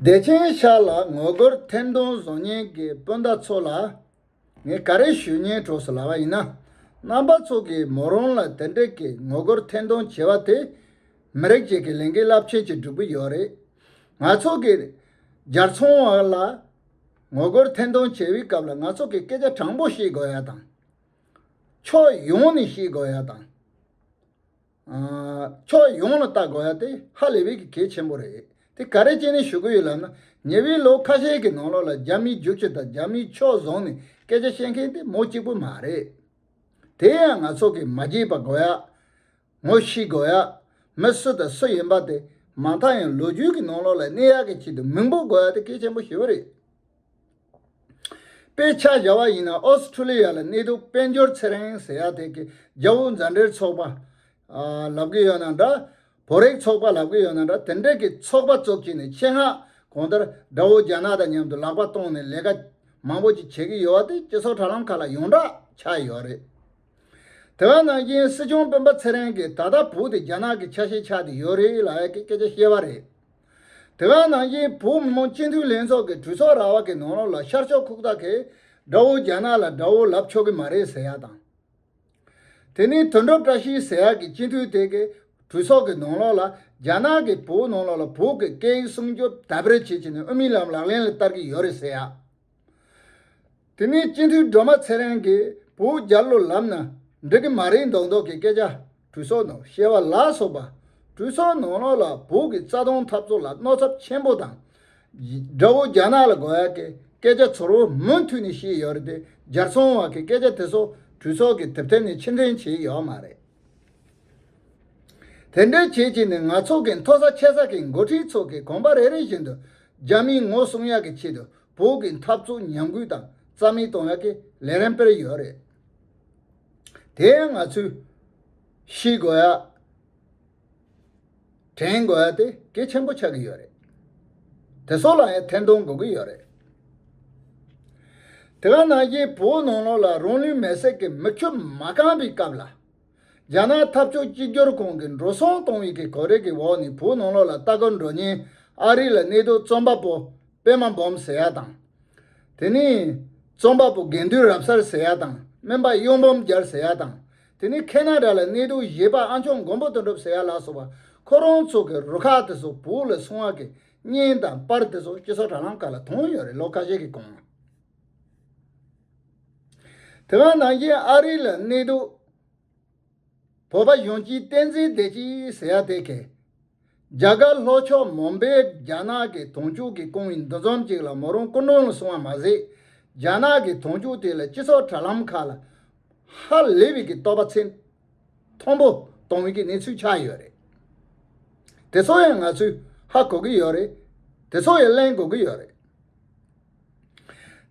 བདེ་ཆེན་ཤར་ལ་ངོ་རྒོལ་ཐེར་འདོན་བཟང་ངན་གྱི་སྤུན་ཟླ་ཚོ་ལ་ངས་ག་རེ་ཞུས་ཉན་གྲོགས་སུ་ལབ་པ་ཡིན་ན། རྣམ་པ་ཚོ་གིས་མོ་རང་ལ་དེ་འདྲའི་གི་ངོ་རྒོལ་ཐེར་འདོན་བྱས་པ་དེ། མི་རིགས་གཅིག་གི་ལས་འགན་རླབས་ཆེན་གྱི་སྒྲུབ་གི་ཡོད་རེད། ང་ཚོ་གིས་རྒྱལ་ཚོང་བ་ལ་ངོ་རྒོལ་ཐེར་འདོན་བྱེད་པའི་སྐབས་ལ་ང་ཚོ་གིས་སྐད་ཆ་དྲང་པོ་བཤད་དགོས་ཡ་དང། ཕྱོགས་ཡོངས་ནས་ཤེས་དགོས་ཡ་དང། ཕྱོགས་ཡོངས་ལ་བལྟ་དགོས་ཡ་དེ་ཧ་ལས་པའི་གི་གེ་ཆེན་པོ་རེད་དེ་ག་རེ་བྱས་ནས་ཞུ་གི་ཡོད་ལབ་ན་ཉེ་བའི་ལོ་ཁ་ཤས་ཀྱི་ནང་ལོགས་ལ་རྒྱ་མིའི་རྒྱུག་ཁྱི་དང་རྒྱ་མིའི་ཕྱོགས་བཟང་ནས་སྐད་ཆ་བཤད་མཁན་དེ་མོ་གཅིག་པུ་མ་རེད། དེ་ཡང་ང་ཚོ་གིས་མ་བརྗེད་པ་དགོས་ཡ། ངོ་ཤེས་དགོས་ཡ། མི་སུ་དང་སུ་ཡིན་པ་དེ་མ་མཐའ་ཡང་ལོ་རྒྱུས་ཀྱི་ནང་ལོགས་ལ་གནས་ཡག་གི་ཆེད་དུ་མིང་པོ་དགོས་ཡ་དེ་སྐད་ཆེན་པོ་ཞེ་བོ་རེད། དཔེ་ཆ་བཞག་པ་ཡིན་ན་ཨོ་སི་ཁྲུ་ལི་ཡ་ལ་གནས་སྡོད་དཔལ་འབྱོར་ཚེ་རིང་ཟེར་ཡ་དེ་གི་རྒྱ་བོད་མཛའ་འབྲེལ་ཚོགས་པ། ལབ་གི་ཡོད་ན་འདྲ། བོད་རིགས་ཚོགས་པ་ལབ་གི་ཡོད་ན་འདྲ་དེ་འདྲ་གི་ཚོགས་པ་བཙུགས་ཀྱི་ནས་ཆེད་མངགས་གང་ལྟར་དགྲ་བོ་རྒྱ་ནག་དང་མཉམ་དུ་ལག་པ་སྟོང་ནས་ལས་ཀ་མང་པོ་ཅིག་བྱེད་གི་ཡོད་བ་དེ་སྤྱི་ཚོགས་དྲ་ལམ་ཁག་ལ་ཡོངས་གྲགས་ཆགས་ཡོད་རེད། དེ་བས་ན་དབྱིན་སྲིད་སྐྱོང་སྤེན་པ་ཚེ་རིང་གིས་ད་ལྟ་བོུ་དེ་རྒྱ་ནག་གི་ཆ་ཤས་ཆགས་ཏེ་ཡོད་རེད་ལ་ཡ་གི་སྐད་ཆ་བཤད་པ་རེད། དེ་བས་ན་དབྱིན་བོུ་མི་མང་སྤྱི་འཐུས་ལྷན་ཚོགས་ཀྱི་གྲོས་ཚོགས་ར་བ་གི་ནང་ལོགས་ལ་ཤར་ཕྱོགས་ཁུག་རྟ་གས་དགྲ་བོ་རྒྱ་ནག་ལ་དགྲ་བོ་ལབ་ཆོག་གི་མ་རེད་ཟེར་ཡག་དང། དེ་ནས་དོན་གྲུབ་བཀྲ་ཤིས་ཟེར་ཡག་གི་སྤྱི་འཐུས་དེ་གས་གྲོས་ཚོགས་ཀྱི་ནང་ལོགས་ལ་རྒྱ་ནག་གིས་བོུ་ནང་ལོགས་ལ་བོུ་གི་སྐད་ཡིག་སྲུང་སྐྱོབ་དམ་པོར་བྱེད་ཆེད་ནས་དབུ་མའི་ལམ་ལག་ལེན་ལ་བསྟར་གྱི་ཡོད་རེད་ཟེར་ཡག། དེ་ནས་སྤྱི་འཐུས་སྒྲོལ་མ་ཚེ་རིང་གིས་བོད་རྒྱ་ལོ་ལམ་ན་འགྲིག་གི་མ་རེད་མདོག་མདོག་གི་སྐད་ཆ་གྲོས་ཚོགས་ནང་བཤད་བ་ལ་སོགས་པ། གྲོས་ཚོགས་ནང་ལོགས་ལ་བོད་ཀྱི་རྩ་དོན་འཐབ་རྩོད་ལ་གནོད་ཚབས་ཆེན་པོ་དང། དགྲ་བོ་རྒྱ་ནག་ལ་དགོས་ཡག་གི་སྐད་ཆ་ཚོར་བོ་མུ་མཐུད་ནས་བཤད་ཡོད་རེད་དེ་རྒྱར་སོང་བ་གི་སྐད་ཆ་དེ་ཚོ་གྲོས་ཚོགས་ཀྱི་དེབ་ཐེར་ནས་ཕྱིར་འཐེན་བྱས་ཡོད་མ་རེད། དེ་འདྲའི་བྱེད་ཀྱིས་ནི་ནག་ཚོགས་ཀྱི་མཐོ་ས་ཆེ་ས་ཀྱི་འགོ་ཁྲིད་ཚོ་གིས་གོམ་པ་རེ་རེ་བཞིན་དུ་རྒྱ་མིའི་ངོ་སྲུང་ཡག་གི་ཆེད་དུ་བོད་ཀྱི་འཐབ་རྩོད་ཉམས་རྒུད་དང་རྩ་མེད་གཏོང་ཡག་གི་ལས་རན་སྤེལ་ཡོད་རེད། དེ་ཡང་ང་ཚོས་ཤེས་དགོས་ཡག། དྲན་དགོས་ཏེ་གལ་ཆེན་པོ་ཆགས་ཀྱི་ཡོད་རེད། དེ་སོགས་ལ་ཡང་ཐེར་འདོན་དགོས་ཀྱི་ཡོད་རེད། དེ་ག་ནང་བཞིན་བོད་ནང་ལོགས་ལ་རང་ལུས་མེར་སྲེག་གི་མི་ཁྱོད་མ་བསྐངས་པའི་སྐབས་ལ། རྒྱ་ནག་འཐབ་ཕྱོགས་གཅིག་གྱུར་ཁང་གིས་འགྲོ་སོང་གཏོང་བའི་གི་གོ་རེ་གི་འོག་ནས་བོད་ནང་ལོགས་ལ་ལྟ་སྐོར་འགྲོ་ཉིན་ཨ་རི་ལ་གནས་སྡོད་རྩོམ་པ་པོ་པད་མ་འབུམ་ཟེར་ཡ་དང། དེ་ནས་རྩོམ་པ་པོ་དགེ་འདུན་རབ་གསར་ཟེར་ཡ་དང་སྨན་པ་གཡུང་འབུམ་རྒྱལ་ཟེར་ཡ་དང་དེ་ནས་ཁེ་ན་ར་ལ་གནས་སྡོད་གཞས་པ་ཨ་མཆོག་མགོན་པོ་དོན་གྲུབ་ཟེར་ཡག་ལགས་སོགས་པ་ཁོ་རང་ཚོ་གི་རུ་ཁག་དེ་ཚོ་བོད་ལ་སོང་བ་གི་བརྙན་དང་པར་དེ་ཚོ་སྤྱི་ཚོགས་དྲ་ལམ་ཁག་ལ་དོང་ཡོད་རེད་ལོ་ཁ་ཤས་ཀྱི་གོང་ལ། དེ་སྔ་ནང་བཞིན་ཨ་རི་ལ་གནས་སྡོད་བོད་པ་གཞོན་སྐྱེས་བསྟན་འཛིན་བདེ་སྐྱིད་ཟེར་ཡག་དེ་གས། རྒྱ་གར་ལྷོ་ཕྱོགས་མོམ་པེའི་རྒྱ་ནག་གི་དོང་ཕྱུགས་ཀྱི་ཀོང་ཡིན་འདུ་འཛོམས་ཅིག་ལ་མོ་རང་སྐུ་མགྲོན་ལ་སོང་བ་མ་ཟད། རྒྱ་ནག་གི་དོང་ཕྱུགས་དེ་ལ་སྤྱི་ཚོགས་དྲ་ལམ་ཁག་ལ། ཧ་ལེ་བི་ཀི་ཏོ་པ་ཚེ་མཐོན་པོ་གཏོང་བི་ཀི་གནས་ཚུལ་ཆགས་ཡོད་རེད། དེ་ཚོ་ཡང་ང་ཚོས་ཧ་གོ་གི་ཡོད་རེད། དེ་ཚོ་ཡང་གླེང་དགོས་ཀྱི་ཡོད་རེད།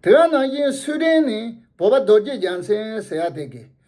དེ་ག་ནང་བཞིན་སུའུ་ཏན་ནས་བོད་པ་རྡོ་རྗེ་རྒྱ་མཚན་ཟེར་ཡ་དེ་གིས་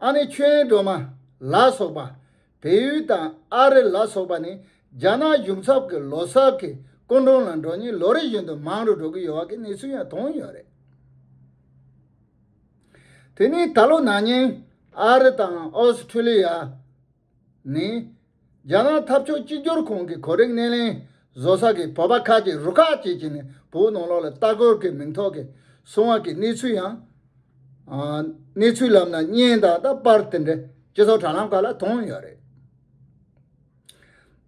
ཨ་ནེ་ཆོས་དབྱིངས་སྒྲོལ་མ་ལ་སོགས་པ། བལ་ཡུལ་དང་ཨ་རི་ལ་སོགས་པ་ནས་རྒྱ་ནག་གཞུང་ཚབ་ཀྱི་ལོ་སར་གྱི་སྐུ་མགྲོན་ལ་འགྲོ་ཉེན་ལོ་རེ་བཞིན་དུ་མང་རུ་འགྲོ་གི་ཡོད་བ་གི་གནས་ཚུལ་ཡང་ཐོན་ཡོད་རེད། དེ་ནས་ད་ལོ་ན་ནིང་ཨ་རི་དང་ཨོ་སི་ཁྲུ་ལི་ཡ། ནི། རྒྱ་ནག་འཐབ་ཕྱོགས་གཅིག་གྱུར་ཁང་གི་གོ་རིམ་སྣེ་ལེན་བཟོ་ས་ཀྱི་བོད་པ་ཁག་ཅིག་རུ་ཁག་ཅིག་བྱས་ནས་བོད་ནང་ལོགས་ལ་ལྟ་སྐོར་གྱི་མིང་ཐོག་གིས་སོང་བ་ཀྱི་གནས་ཚུལ་ཡང། གནས་ཚུལ་ལབ་ན་བརྙན་དང་ད་པར་དེ་འདྲ་སྤྱི་ཚོགས་དྲ་ལམ་ཁག་ལ་མཐོང་ཡོད་རེད།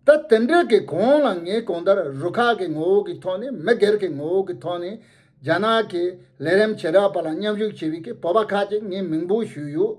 ད་དེ་འདྲ་གི་གོང་ལ་ངས་གང་ལྟར་རུ་ཁག་གི་ངོ་བོ་གི་ཐོག་ནས་མི་སྒེར་གི་ངོ་བོ་གི་ཐོག་ནས་རྒྱ་ནག་གི་ལས་རིམ་བྱེ་བྲག་པ་ལ་མཉམ་ཞུགས་བྱེད་པའི་ཀྱི་བོད་པ་ཁག་ཅིག་ངས་མིང་འབོད་ཞུས་ཡོད།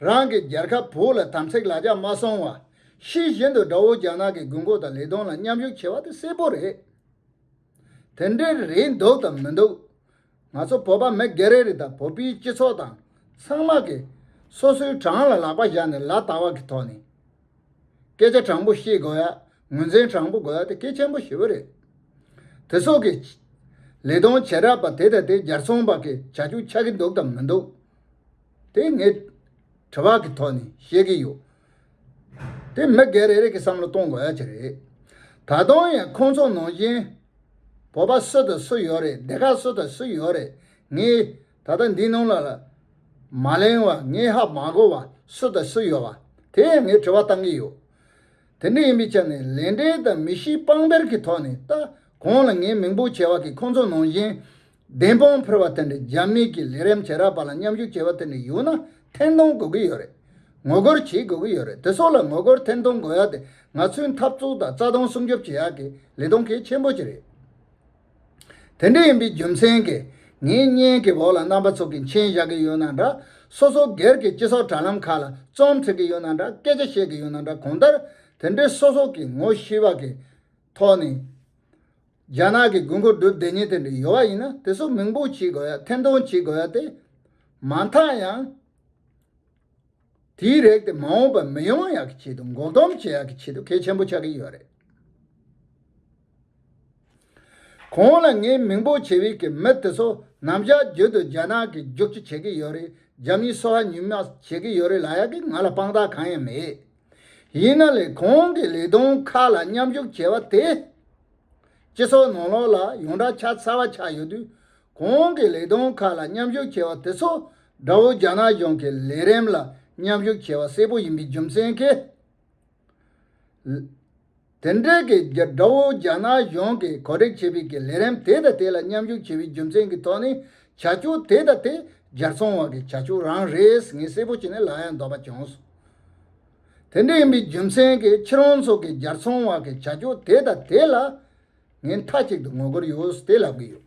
རང་གི་རྒྱལ་ཁབ་བོད་ལ་དམ་ཚིག་ལག་ཆ་མ་སོང་བ། ཤེས་བཞིན་དུ་དགྲ་བོ་རྒྱ་ནག་གི་དགོས་མཁོ་དང་ལས་དོན་ལ་མཉམ་ཞུགས་བྱེད་པ་དེ་གསལ་པོ་རེད། དེ་འདྲའི་རེད་འདུག་དང་མི་འདུག་ང་ཚོ་བོད་པ་མི་སྒེར་རེ་རེ་དང་བོད་པའི་སྤྱི་ཚོགས་དང་ཚང་མ་གིས་སོ་སོའི་བྲང་ལ་ལག་པ་བཞག་ནས་ལ་དྭགས་བ་གི་ཐོག་ནས་སྐད་ཆ་དྲང་པོ་བཤད་དགོས་ཡ་ངོས་འཛིན་དྲང་པོ་དགོས་ཡ་དེ་གལ་ཆེན་པོ་ཞེ་བོ་རེད། དེ་སོགས་ཀྱི་ལས་དོན་བྱེད་རབས་པ་དེ་དང་དེ་རྒྱར་ཚོང་པ་གིས་བྱ་རྒྱུ་ཆགས་ཀྱི་འདུག་དང་མི་འདུག། དེ་ངས་དྲི་བ་གི་ཐོག་ནས་བཤད་ཀྱི་ཡོད། དེ་མི་སྒེར་རེ་རེ་གིས་བསམ་བློ་གཏོང་དགོས་ཀྱི་རེད། ད་དུང་ཡང་ཁོང་ཚོ་ནང་བཞིན། བོད་པ་སུ་དང་སུ་ཡོད་རེད་སྡེ་ཁག་སུ་དང་སུ་ཡོད་རེད་ངས་ད་ལྟ་འདི་ནང་ལ་ལ་མ་གླེང་བ་ངས་ཧ་མ་གོ་བ་སུ་དང་སུ་ཡོད་བ་དེ་ཡང་ངས་དྲི་བ་བཏང་གི་ཡོད། དེ་འདྲ་ཡིན་པའི་ཆ་ནས་ལས་འབྲས་དང་མི་གཤིས་དཔང་པོལ་གྱི་ཐོག་ནས་ལྟ་གོང་ལ་ངས་མིང་པོ་བྱས་བ་གིས་ཁོང་ཚོ་ནང་བཞིན་བདེན་དཔང་ཕུལ་བ་དེ་འདྲའི་རྒྱ་མིས་ཀྱི་ལས་རིམ་བྱེད་རག་པ་ལ་མཉམ་ཞུགས་བྱེད་པ་དེ་འདྲའི་ཡོད་ན་ཐེར་འདོན་དགོས་ཀྱི་ཡོད་རེད། ངོ་རྒོལ་བྱེད་དགོས་ཀྱི་ཡོད་རེད་དེ་སོགས་ལ་ངོ་རྒོལ་ཐེར་འདོན་དགོས་ཡག་དེ་ང་ཚོའི་འཐབ་རྩོད་དང་རྩ་དོན་སྲུང་སྐྱོབ་བྱེད་ཡག་གི་ལས་དོན་གལ་ཆེན་པོ་ཞིག་རེད། དེ་འདྲ་ཡིན་པའི་རྒྱུ་མཚན་གྱིས་ངས་བརྙན་གྱི་འོག་ལ་རྣམ་པ་ཚོ་གི་མཆན་བཞག་གི་ཡོད་ན་འདྲ་སོ་སོ་སྒེར་གྱི་སྤྱི་ཚོགས་དྲ་ལམ་ཁག་ལ་རྩོམ་བྲིས་ཀྱི་ཡོད་ན་འདྲ་སྐད་ཆ་བཤད་ཀྱི་ཡོད་ན་འདྲ་གང་ལྟར་དེ་འདྲའི་སོ་སོ་གི་ངོ་ཤེས་པ་གི། ཐོག་ནས། རྒྱ་ནག་གི་དགུན་འགོ་སྒྲུབ་བདེ་ཉིན་དེ་འདྲའི་ཡོལ་བ་ཡིན་ན་དེ་ཚོ་མིང་འབུག་བྱེད་དགོས་ཡ་འཐེན་འཐོང་བྱེད་དགོས་ཡ་སྟེ། མ་མཐའ་ཡང། དེའི་རེག་དེ་མ་འོངས་པར་མི་ཡོང་ཡག་གི་ཆེད་དུ་འགོག་སྡོམ་བྱེད་ཡག་གི་ཆེད་དུ་གལ་ཆེན་པོ་ཆགས་ཀྱི་ཡོད་རེད། གོང་ལ་ངས་མིང་འབུག་བྱེད་བའི་གི་མི་དེ་ཚོ་ནམ་བཞག་རྒྱུ་དུ་རྒྱ་ནག་གི་རྒྱུག་ཁྱི་བྱེད་ཀྱི་ཡོད་རེད་རྒྱ་མིའི་སོ་ཧ་ཉུལ་མ་བྱེད་ཀྱི་ཡོད་རེད་ལ་ཡག་གི་ང་ལ་དཔང་རྟགས་གང་ཡང་མེད། ཡིན་ན་ལས་ཁུངས་ཀྱི་ལས་དོན་ཁག་ལ་མཉམ་ཞུགས་བྱས་པ་དེས། སྤྱི་ཚོགས་ནང་ལོགས་ལ་ཡོངས་བསྒྲགས་ཆ་ཚང་བ་ཆགས་ཡོད་དུས། གོང་གི་ལས་དོན་ཁག་ལ་མཉམ་ཞུགས་བྱས་པ་དེ་ཚོ་དགྲ་བོ་རྒྱ་ནག་གཞུང་གི་ལས་རིམ་ལ་མཉམ་ཞུགས་བྱས་པ་གསལ་པོ་ཡིན་པའི་རྒྱུ་མཚན་གྱིས། དེ་འབྲེལ་གྱི་དགྲ་བོ་རྒྱ་ནག་གཞུང་གིས་གོ་སྒྲིག་བྱས་པའི་གི་ལས་རིམ་དེ་དང་དེ་ལ་མཉམ་ཞུགས་བྱས་པའི་རྒྱུ་མཚན་གྱི་ཐོག་ནས་བྱ་སྤྱོད་དེ་དང་དེ་སྦྱར་ཚོང་བ་གི་བྱ་སྤྱོད་རང་རེས་ངས་གསལ་པོ་བྱས་ནས་ལག་ཡང་འདོགས་པ་བྱུང་སོང། དེ་འདྲ་ཡིན་པའི་རྒྱུ་མཚན་གྱི་ཁྱེད་རང་ཚོ་གི་སྦྱར་ཚོང་བ་གི་བྱ་སྤྱོད་དེ་དང་དེ་ལ་ངས་མཐའ་གཅིག་ཏུ་ངོ་རྒོལ་ཡོད་དེ་ལབ་ཀྱི་ཡོད།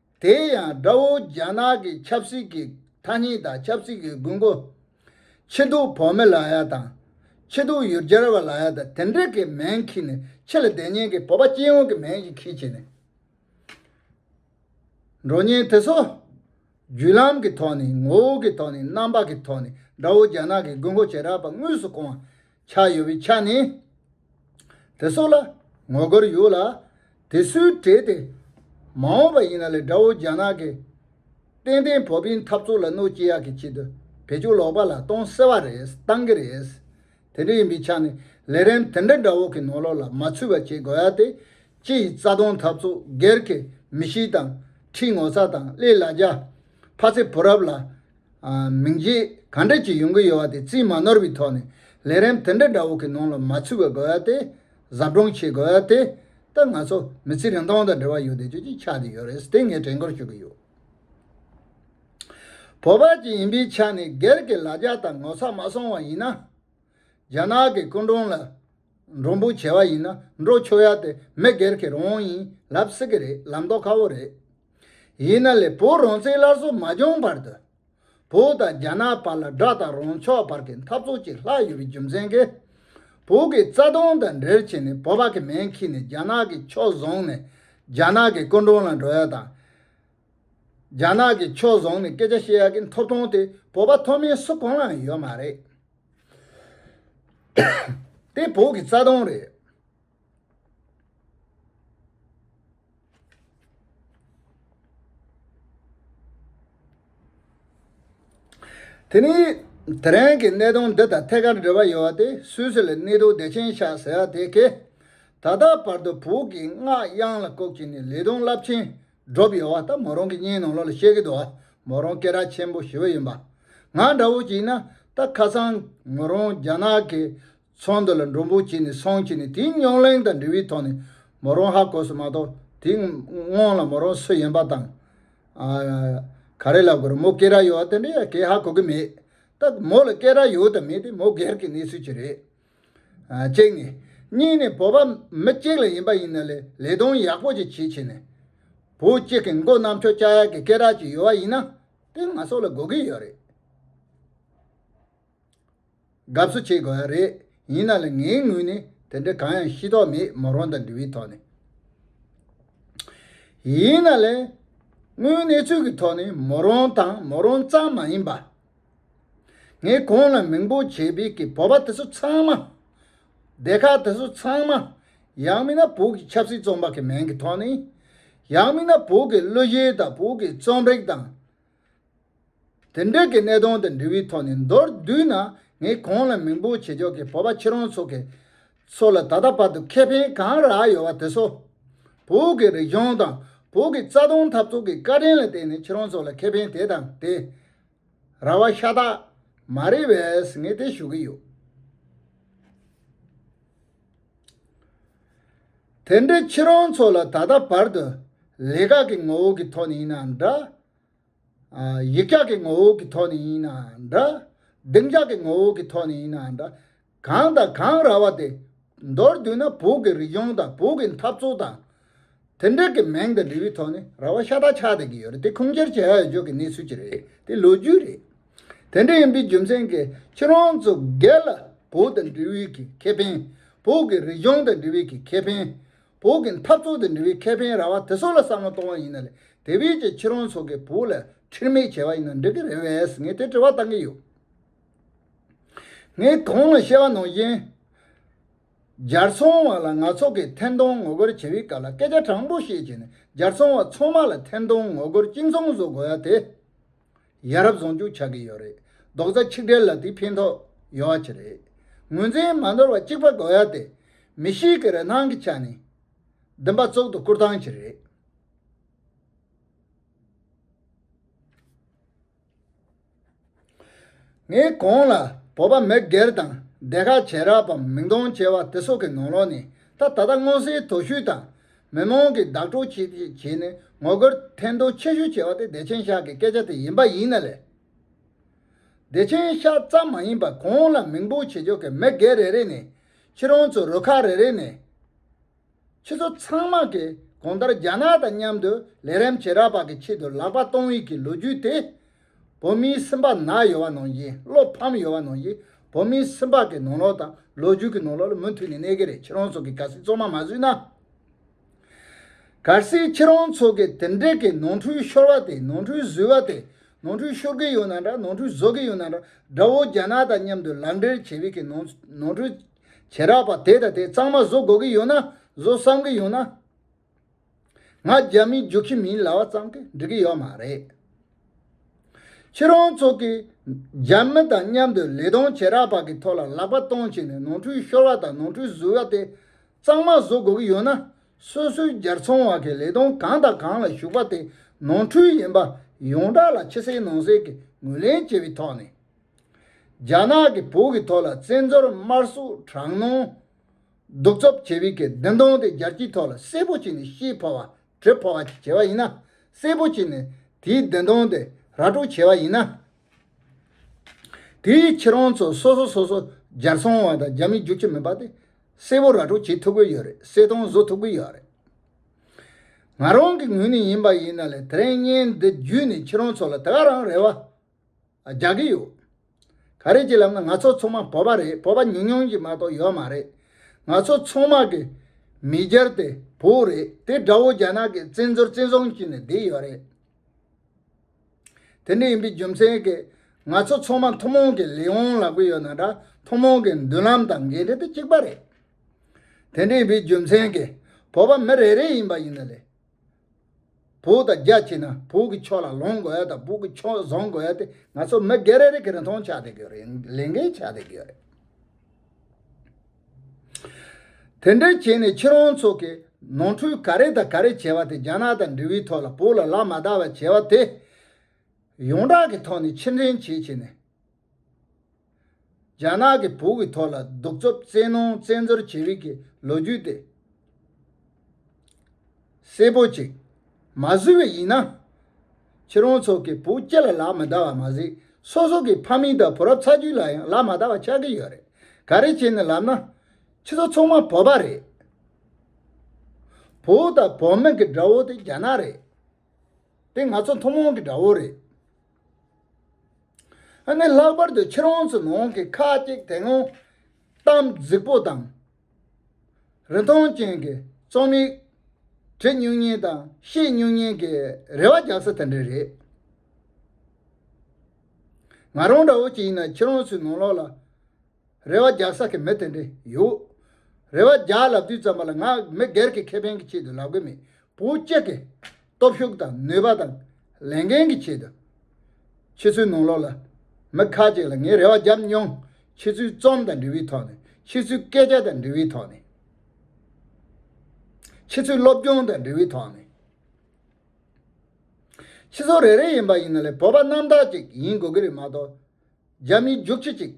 དེ་ཡང་དགྲ་བོ་རྒྱ་ནག་གི་ཆབ་སྲིད་ཀྱི་མཐའ་སྙིང་དང་ཆབ་སྲིད་ཀྱི་དགོས་མཁོ། ཕྱི་སྡུག་བོགས་མི་ལག་ཡ་དང། ཕྱི་སྡུག་ཡུལ་གྱར་བ་ལག་ཡ་དང་དེ་འདྲས་ཀྱི་མེན་ཁྱི་ནས་ཕྱི་ལ་བདེ་གཉེན་གྱི་བོད་པ་སྤྱི་ཡོངས་ཀྱི་མེན་ཞིག་ཁྱི་བྱས་ནས། འགྲོ་གཉེན་དེ་ཚོ། བརྒྱུད་ལམ་གྱི་ཐོག་ནས་ངོ་བོ་གྱི་ཐོག་ནས་རྣམ་པ་གྱི་ཐོག་ནས་དགྲ་བོ་རྒྱ་ནག་གི་དགོས་མཁོ་ཇེ་དྲག་པ་དངོས་སུ་སྐོང་བ། ཆགས་ཡོད་པའི་ཆ་ནས། དེ་སོགས་ལ་ངོ་རྒོལ་ཡོད་ལ། དེ་སུའི་གྲས་དེ་མ་འོངས་པ་ཡིན་ན་ལས་དགྲ་བོ་རྒྱ་ནག་གི་ཏན་ཏན་བོད་པའི་འཐབ་རྩོད་ལ་གནོད་སྐྱེལ་ཡག་གི་ཆེད་དུ་བེད་སྤྱོད་ལོག་པ་ལ་གཏོང་གསལ་བ་རེད་གཏང་གི་རེད། དེ་འདྲ་ཡིན་པའི་ཆ་ནས་ལས་རིམ་དེ་འདྲ་དགྲ་བོ་གི་ནོར་ལོག་ལ་མ་ཚུད་པ་བྱེད་དགོས་ཡ་དེ་སྤྱི་ཡི་རྩ་དོན་འཐབ་རྩོད་སྒེར་གི་མི་གཤིས་དང་ཁྲིའི་ངོ་ཚ་དང་གླེ་ལ་རྒྱ་ཕ་ཚེ་བུ་རབས་ལ་མིང་རྗེས་ག་འདྲ་ཅིག་ཡོང་གི་ཡོད་བ་དེ་རྩིས་མ་ནོར་བའི་ཐོག་ནས་ལས་རིམ་དེ་འདྲ་འདྲ་བོ་གི་ནང་ལ་མ་ཚུད་པ་དགོས་ཡ་དེ་གཟབ་སྦྲོང་བྱེད་དགོས་ཡ་དེ་ལྟ་ང་ཚོ་མི་ཚེ་རིང་ཐུང་དང་འབྲེལ་བ་ཡོད་དེ་ཅི་ཅིག་ཆགས་ཀྱི་ཡོད་རེད་དེ་ངས་དྲན་སྐུལ་ཞུ་གི་ཡོད། བོད་པ་ཅིག་ཡིན་པའི་ཆ་ནས་སྒེར་གྱི་ལ་རྒྱ་དང་ངོ་ཚ་མ་སོང་བ་ཡིན་ན། རྒྱ་ནག་གི་སྐུ་མགྲོན་ལ། མགྲོན་པོ་བྱེད་བ་ཡིན་ན་འགྲོ་ཆོས་ཡག་དེ་མི་སྒེར་གྱི་རང་དབང་ཡིན་ལབ་སྲིད་ཀྱི་རེད་ལམ་ལྡོག་ཁ་བོ་རེད། ཡིན་ན་ལས་བོད་རང་བཙན་སླར་གསོ་མ་བྱུང་བར་དུ། བོད་དང་རྒྱ་ནག་བར་ལ་དགྲ་དང་རང་ཕྱོགས་བར་གྱི་འཐབ་རྩོད་ཅིག་ལྷག་ཡོད་པའི་རྒྱུ་མཚན་གྱིས། བོད་ཀྱི་རྩ་དོན་དང་འབྲེལ་བྱས་ནས་བོད་པ་གྱི་མེ་འཁྱིལ་ནས་རྒྱ་ནག་གི་ཕྱོགས་བཟུང་ནས་རྒྱ་ནག་གི་སྐུ་མགྲོན་ལ་འགྲོ་ཡག་དང། རྒྱ་ནག་གི་ཕྱོགས་བཟུང་ནས་སྐད་ཆ་བཤད་ཡག་གི་འཐོབ་ཐོང་དེ་བོད་པ་ཐོབ་མིན་སུ་གང་ལའང་ཡོད་མ་རེད། དེ་བོད་ཀྱི་རྩ་དོན་རེད། དེ་ནས་དེ་རིང་གི་གནད་དོན་འདི་དང་ཐད་ཀར་འབྲེལ་བ་ཡོད་པ་དེ་སུད་སི་ལ་གནས་སྡོད་བདེ་ཆེན་ཤག་ཟེར་བ་དེ་གས་ད་ལྟ་བར་དུ་བོད་ཀྱི་སྔགས་དབྱངས་ལ་ལྐོག་གྱུར་ནས་ལས་དོན་རླབས་ཆེན་སྒྲོ་བའི་བ་ལྟར་མོ་རང་གི་སྙིང་ནང་ལོགས་ལ་གཤེགས་ཀྱི་འདུག་མོ་རང་སྐེ་རགས་ཆེན་པོ་བཞི་བ་ཡིན་པ། ང་འདྲ་བོ་ཞིག་ན་ད་ཁ་སང་མོ་རང་རྒྱ་ནག་གི་ཚོང་དུ་ལ་འགྲོ་འབོད་བྱས་ནས་སོང་ཕྱིན་ནས་དེའི་རྙོག་གླེང་དང་འབྲེལ་བའི་ཐོག་ནས་མོ་རང་ཧ་གོ་སོང་མ་གཏོགས་དེའི་སྔོན་ལ་མོ་རང་སུ་ཡིན་པ་དང། ག་རེ་ལ་དགོས་རུང་མོ་སྐེ་རགས་ཡོད་བ་དེ་འདྲ་ཡང་གས་ཧ་གོ་གི་མེད་སྟབས་མོ་ལ་སྐེ་རགས་ཡོད་དམ་མེད་དེ་མོ་སྒེར་གྱི་གནས་ཚུལ་ཅིག་རེད། གཅིག་ནས། གཉིས་ནས་བོད་པ་མི་གཅིག་ལ་ཡིན་པ་ཡིན་ན་ལས་ལས་དོན་ཡག་པོ་ཅིག་བྱེད་ཆེད་ནས། བུ་གཅིག་གི་མགོ་གནམ་ཆོས་ལྕགས་ཡག་གི་སྐད་གྲགས་ཅིག་ཡོད་པ་ཡིན་ན་དེ་ང་སོགས་ལ་གོ་གི་ཡོད་རེད། དགའ་བསུ་བྱེད་དགོས་པ་རེད་ཡིན་ན་ལས་ངའི་ངོས་ནས་དེ་འདྲ་གང་ཡང་ཤེས་རྟོགས་མེད་མོ་རང་དང་འབྲི་བའི་ཐོག་ནས། ཡིན་ན་ལས། དངོས་གནས་ཚུལ་གྱི་ཐོག་ནས་མོ་རང་དང་མོ་རང་ཙམ་མ་ཡིན་པ། ངས་ཁོང་ལ་མིང་པོ་བྱས་པའི་གི་བོད་པ་དེ་ཚོ་ཚང་མ། སྡེ་ཁག་དེ་ཚོ་ཚང་མ། ཡང་མིན་ན་བོད་ཀྱི་ཆབ་སྲིད་བཙོང་པ་གི་མིང་གི་ཐོག་ནས། ཡང་མིན་ན་བོད་ཀྱི་གླུ་གཞས་དང་བོད་ཀྱི་རྩོམ་རིག་དང། དེ་འདྲས་གི་གནད་དོན་དང་འབྲེལ་བའི་ཐོག་ནས་མདོར་བསྡུས་ན་ངས་ཁོང་ལ་མིང་པོ་བྱེད་ཕྱོགས་གི་བོད་པ་ཁྱེད་རང་ཚོ་གི་ཚོ་ལ་ད་ལྟ་བར་དུ་ཁེ་ཕན་གང་རག་ཡོད་བ་དེ་ཚོ། བོད་ཀྱི་རིག་གཞུང་དང་བོད་ཀྱི་རྩ་དོན་འཐབ་རྩོད་ཀྱི་བཀའ་དྲིན་ལ་བརྟེན་ནས་ཁྱེད་རང་ཚོ་ལ་ཁེ་ཕན་དེ་དང་དེ། ར་བ་ཤ་སྟག་མ་རེད་བས་ངས་དེ་ཞུ་གི་ཡོད། དེ་འདྲའི་ཁྱེད་རང་ཚོ་ལ་ད་ལྟ་བར་དུ་ལས་ཀ་གི་ངོ་བོ་གི་ཐོག་ནས་ཡིན་ན་འདྲ། ཡིག་སྐྱག་གི་ངོ་བོ་གི་ཐོག་ནས་ཡིན་ན་འདྲ། སྡིངས་ཆགས་ཀྱི་ངོ་བོ་གི་ཐོག་ནས་ཡིན་ན་འདྲ། གངས་དང་གངས་ར་བ་དེ། མདོར་བསྡུས་ན་བོད་ཀྱི་རིག་གཞུང་དང་བོད་ཀྱི་འཐབ་རྩོད་དང། དེ་འབྲེལ་གྱི་མིང་དང་འབྲི་བའི་ཐོག་ནས་ར་བ་ཤ་སྟག་ཆགས་བསྡད་ཀྱི་ཡོད་རེད་དེ་ཁུངས་སྐྱེལ་བྱེད་ཡག་ཡོད་ཀྱི་གནས་ཚུལ་ཅིག་རེད་དེ་ལོ་རྒྱུས་རེད། དེ་འདྲ་ཡིན་པའི་རྒྱུ་མཚན་གྱིས་ཁྱེད་རང་ཚོ་སྒེར་ལ་བོད་དང་འབྲི་བའི་གི་ཁེ་ཕན། བོད་ཀྱི་རིག་གཞུང་དང་འབྲི་བའི་གི་ཁེ་ཕན། བོད་ཀྱི་འཐབ་རྩོད་དང་འབྲི་བའི་ཁེ་ཕན་ར་བ་དེ་ཚོ་ལ་བསམ་བློ་གཏོང་བ་ཡིན་ན་ལས་དེ་བས་ཀྱི་ཁྱེད་རང་ཚོ་གིས་བོད་ལ་ཁྲིར་མེད་བྱས་པ་ཡིན་ན་འགྲིག་གི་རེད་བས་ངས་དེ་དྲི་བ་བཏང་གི་ཡོད། ངས་གོང་ལ་བཤད་པ་ནང་བཞིན། སྦྱར་ཚོང་བ་ལ་ནག་ཚོགས་ཀྱིས་ཐེར་འདོན་ངོ་རྒོལ་བྱེད་པའི་སྐབས་ལ་སྐད་ཆ་དྲང་པོ་བཤད་བྱས་ནས་སྦྱར་ཚོང་བ་ཚང་མ་ལ་ཐེར་འདོན་ངོ་རྒོལ་གཅིག་མཚུངས་བཟོ་དགོས་ཡ་དེ། ཡ་རབས་བཟང་སྐྱུག་ཆགས་ཀྱི་ཡོད་རེད་རྡོག་རྩ་ཆིག་སྒྲིལ་ལ་དེ་ཕན་ཐོག་ཡོད་བ་ཅི་རེད། ངོས་འཛིན་མ་འདོར་བ་གཅིག་པ་དགོས་ཡ་དེ། མི་ཞིག་གི་རེ་སྣང་གི་ཆ་ནས། འདི་འབའ་གཙུག་ཏུ་བཀུར་སྟངས་ཅི་རེད། ངས་གོང་ལ་བོད་པ་མི་སྒེར་དང་སྡེ་ཁག་བྱེ་བྲག་པ་མིང་སྟོང་བྱེ་བ་དེ་སོགས་ཀྱི་ནང་ལོགས་ནས་ད་ད་ལྟ་མངོན་གསལ་དོད་ཤོས་དང་མི་མང་གིས་བདག་སྤྲོ་བྱེད་ཅེས་བྱས་ནས་ངོ་རྒོལ་ཐེར་འདོན་ཆེ་ཤོས་བྱས་པ་དེ་བདེ་ཆེན་ཤག་གི་སྐད་ཆ་དེ་ཡིན་པ་ཡིན་ན་ལས། བདེ་ཆེན་ཤག་ཙམ་མ་ཡིན་པར་གོང་ལ་མིང་སྤོ་བྱེད་ཕྱོགས་ཀྱི་མི་སྒེར་རེ་རེ་ནས་ཁྱེད་རང་ཚོ་རུ་ཁག་རེ་རེ་ནས། ཁྱེད་ཚོ་ཚང་མ་གིས་གང་ལྟར་རྒྱ་ནག་དང་མཉམ་དུ་ལས་རེམ་བྱེད་རག་པ་གི་ཆེད་དུ་ལག་པ་སྟོང་ཡིག་གི་ལོ་རྒྱུས་དེ། བོད་མིའི་སེམས་པ་ན་ཡོད་བ་ནང་བཞིན་བློ་ཕམ་ཡོད་བ་ནང་བཞིན་བོད་མིའི་སེམས་པ་གི་ནང་ལོག་དང་ལོ་རྒྱུས་གི་ནང་ལོག་ལ་མུ་མཐུད་ནས་གནས་གི་རེད་ཁྱེད་རང་ཚོ་གི་ག་སྲིད་ཚོགས་མ་མ་བཟོས་ན། ག་སྲིད་ཁྱེད་རང་ཚོ་གི་དེ་འདྲེ་གི་ནང་འཁྲུལ་ཤོར་བ་དེ་ནང་འཁྲུལ་བཟོས་བ་དེ་ནང་འཁྲུལ་ཤོར་གི་ཡོད་ན་འདྲ་ནང་འཁྲུལ་བཟོ་གི་ཡོད་ན་འདྲ་དགྲ་བོ་རྒྱ་ནག་དང་མཉམ་དུ་ལག་འབྲེལ་བྱེད་བའི་གི་ནང་འཁྲུལ། བྱེད་རགས་པ་དེ་དང་དེ་གཙང་མ་བཟོ་དགོས་ཀྱི་ཡོད་ན་བཟོ་བསམ་གྱི་ཡོད་ན། ང་རྒྱ་མི་རྒྱུག་ཁྱི་མིན་ལབ་བ་ཙམ་གྱིས་འགྲིག་གི་ཡོད་མ་རེད། ཁྱེད་རང་ཚོ་གིས་རྒྱ་མི་དང་མཉམ་དུ་ལས་དོན་བྱེད་རགས་པ་གྱི་ཐོག་ལ་ལག་པ་གཏོང་བྱས་ནས་ནོར་འཁྲུལ་ཤོར་བ་དང་ནོར་འཁྲུལ་བཟོས་བ་དེ་གཙང་མ་བཟོ་དགོས་ཀྱི་ཡོད་ན་སོ་སོའི་རྒྱར་ཚོང་བ་གིས་ལས་དོན་གང་དང་གང་ལ་ཞུགས་པ་དེ་ནོར་འཁྲུལ་ཡིན་པ་ཡོངས་གྲགས་ལ་ཕྱི་གསལ་ནང་གསལ་གྱིས་ངོས་ལེན་བྱས་པའི་ཐོག་ནས། རྒྱ་ནག་གི་བོད་ཀྱི་ཐོག་ལ་བཙན་འབྱོར་དམར་གསོད་དྲག་གནོན། གདུག་རྩུབ་ཆེ་བི་ཀའི་བདེན་དོན་དེ་རྒྱལ་སྤྱིའི་ཐོག་ལ་གསལ་པོ་བྱས་ནས་ཤེས་ཕོ་བ་དྲོད་ཕོ་བ་ཞིག་བྱས་པ་ཡིན་ན་གསལ་པོ་བྱས་ནས་དེའི་བདེན་དོན་དེ་ར་སྤྲོད་བྱས་པ་ཡིན་ན། དེའི་ཕྱིར་རང་ཚོ་སོ་སོ་སོ་སོ་རྒྱལ་སྲུང་བ་དང་རྒྱ་མི་རྒྱུག་ཁྱི་མིན་པ་དེ་གསལ་པོ་ར་སྤྲོད་བྱེད་ཐུབ་གི་ཡོད་རེད་གསལ་སྟོང་བཟོ་ཐུབ་གི་ཡོད་རེད། ང་རང་གི་ངོས་ནས་ཡིན་པ་ཡིན་ན་ལས་དེ་རིང་བརྙན་འདི་བརྒྱུད་ནས་ཁྱེད་རང་ཚོ་ལ་དེ་ག་རང་རེད་བ། རྒྱག་གི་ཡོད། ག་རེ་གྱི་ལམ་ནས་ང་ཚོ་ཚང་མ་བོད་པ་རེད་བོད་པ་ཉུང་ཉུང་གྱི་མ་གཏོགས་ཡོད་མ་རེད། ང་ཚོ་ཚང་མ་གི་མི་སྒེར་དེ་བོད་རེད་དེ་དགྲ་བོ་རྒྱ་ནག་གི་བཙན་འཛུལ་བཙན་བཟུང་བྱས་ནས་བསྡད་ཡོད་རེད། དེ་འདྲ་ཡིན་པའི་རྒྱུ་མཚན་གྱིས་ང་ཚོ་ཚང་མ་ཐུན་མོང་གི་ལས་དབང་ལག་པས་ཡོད་ན་འདྲ་ཐུན་མོང་གི་མདུན་ལམ་དང་འགན་འཁྲི་དེ་གཅིག་པ་རེད། དེ་འདྲ་ཡིན་པའི་རྒྱུ་མཚན་གྱིས་བོད་པ་མི་རེ་རེ་ཡིན་པ་ཡིན་ན་ལས། བོད་དང་རྒྱ་བྱས་ན་བོད་ཀྱི་ཕྱོགས་ལ་ལོངས་དགོས་དང་བོད་ཀྱི་ཕྱོགས་བཟང་དགོས་དེ་ང་ཚོ་མི་སྒེར་རེ་རེ་གིས་རིན་ཐང་ཆགས་བསྡད་དགོས་རེད་ལས་འགན་ཆགས་བསྡད་དགོས་རེད། དེ་འདྲ་བྱས་ནས་ཁྱེད་རང་ཚོ་གིས་ནོར་འཁྲུལ་ག་རེ་དང་ག་རེ་བྱས་པ་དེ་རྒྱ་ནག་དང་འབྲེལ་བའི་ཐོག་ལ་བོད་ལ་ལག་མ་བརྡ་བ་བྱས་པ་དེ། ཡོངས་གྲགས་ཀྱི་ཐོག་ནས་ཕྱིར་འདྲེན་བྱེད་བྱས་ནས། རྒྱ་ནག་གི་བོད་ཀྱི་ཐོག་ལ་གདུག་རྩུབ་བཙན་གནོང་བཙན་འཛུལ་བྱེད་རིགས་ཀྱི་ལོ་རྒྱུས་དེ་གསལ་པོ་གཅིག་མ་བཟོས་པས་ཡིན་ན། ཁྱེད་རང་ཚོ་གི་བུ་སྐྱེས་ལ་ལག་མི་བརྡ་བ་མ་ཟད་སོ་སོ་གི་ཕ་མེས་དང་བུ་རབས་ཚ་རྒྱུད་ལ་ཡང་ལག་མ་བརྡ་བ་ཆགས་ཀྱི་ཡོད་རེད་ག་རེ་བྱས་ནས་ལབ་ན། ཁྱེད་ཚོ་ཚང་མ་བོད་པ་རེད། བོད་དང་བོད་མི་གི་དགྲ་བོ་དེ་རྒྱ་ནག་རེད། དེ་ང་ཚོ་ཐུན་མོང་གི་དགྲ་བོ་རེད། ཨ་ནི་ལྷག་པར་དུ་ཕྱིར་འོང་ཚུལ་འོང་གི་ཁ་ཅིག་དེ་སྔོན་གཏམ་རྫིག་པོ་དང། རི་མཐོང་ཅན་གྱི་རྩོམ་ཡིག་བྲི་སྙུག་སྙན་དང་ཤེས་སྙུག་སྙན་གྱི་རེ་བ་རྒྱག་ས་དེ་འདྲ་རེད། ང་རང་འདྲ་བོ་ཅིག་ཡིན་ན་ཕྱིར་འོང་ཚུལ་འོང་ལོག་ལ་རེ་བ་རྒྱག་ས་གི་མི་དེ་འདྲ་ཡོད། རེ་བ་རྒྱག་ལབ་དུས་ཙམ་པ་ལ་ང་མི་སྒེར་གྱི་ཁེ་ཕན་གྱི་ཆེད་དུ་ལབ་གི་མེད་བུ་གཅིག་གིས་སྟོབས་ཤུགས་དང་ནུས་པ་དང་ལས་འགན་གྱི་ཆེད་དུ། ཕྱི་ཚུལ་ནང་ལོག་ལ། མི་ཁ་ཅིག་ལ་ངས་རེ་བ་བརྒྱབ་མྱོང། ཕྱི་ཚུལ་རྩོམ་དང་འབྲི་བའི་ཐོག་ནས། ཕྱི་ཚུལ་སྐད་ཆ་དང་འབྲི་བའི་ཐོག་ནས། ཕྱི་ཚུལ་སློབ་སྦྱོང་དང་འབྲི་བའི་ཐོག་ནས། ཕྱི་ཚུལ་རེ་རེ་ཡིན་པ་ཡིན་ན་ལས་བོད་པ་རྣམ་དག་ཅིག་ཡིན་དགོས་ཀྱི་རེད་མ་གཏོགས། རྒྱ་མིའི་རྒྱུགས་ཁྱི་ཅིག།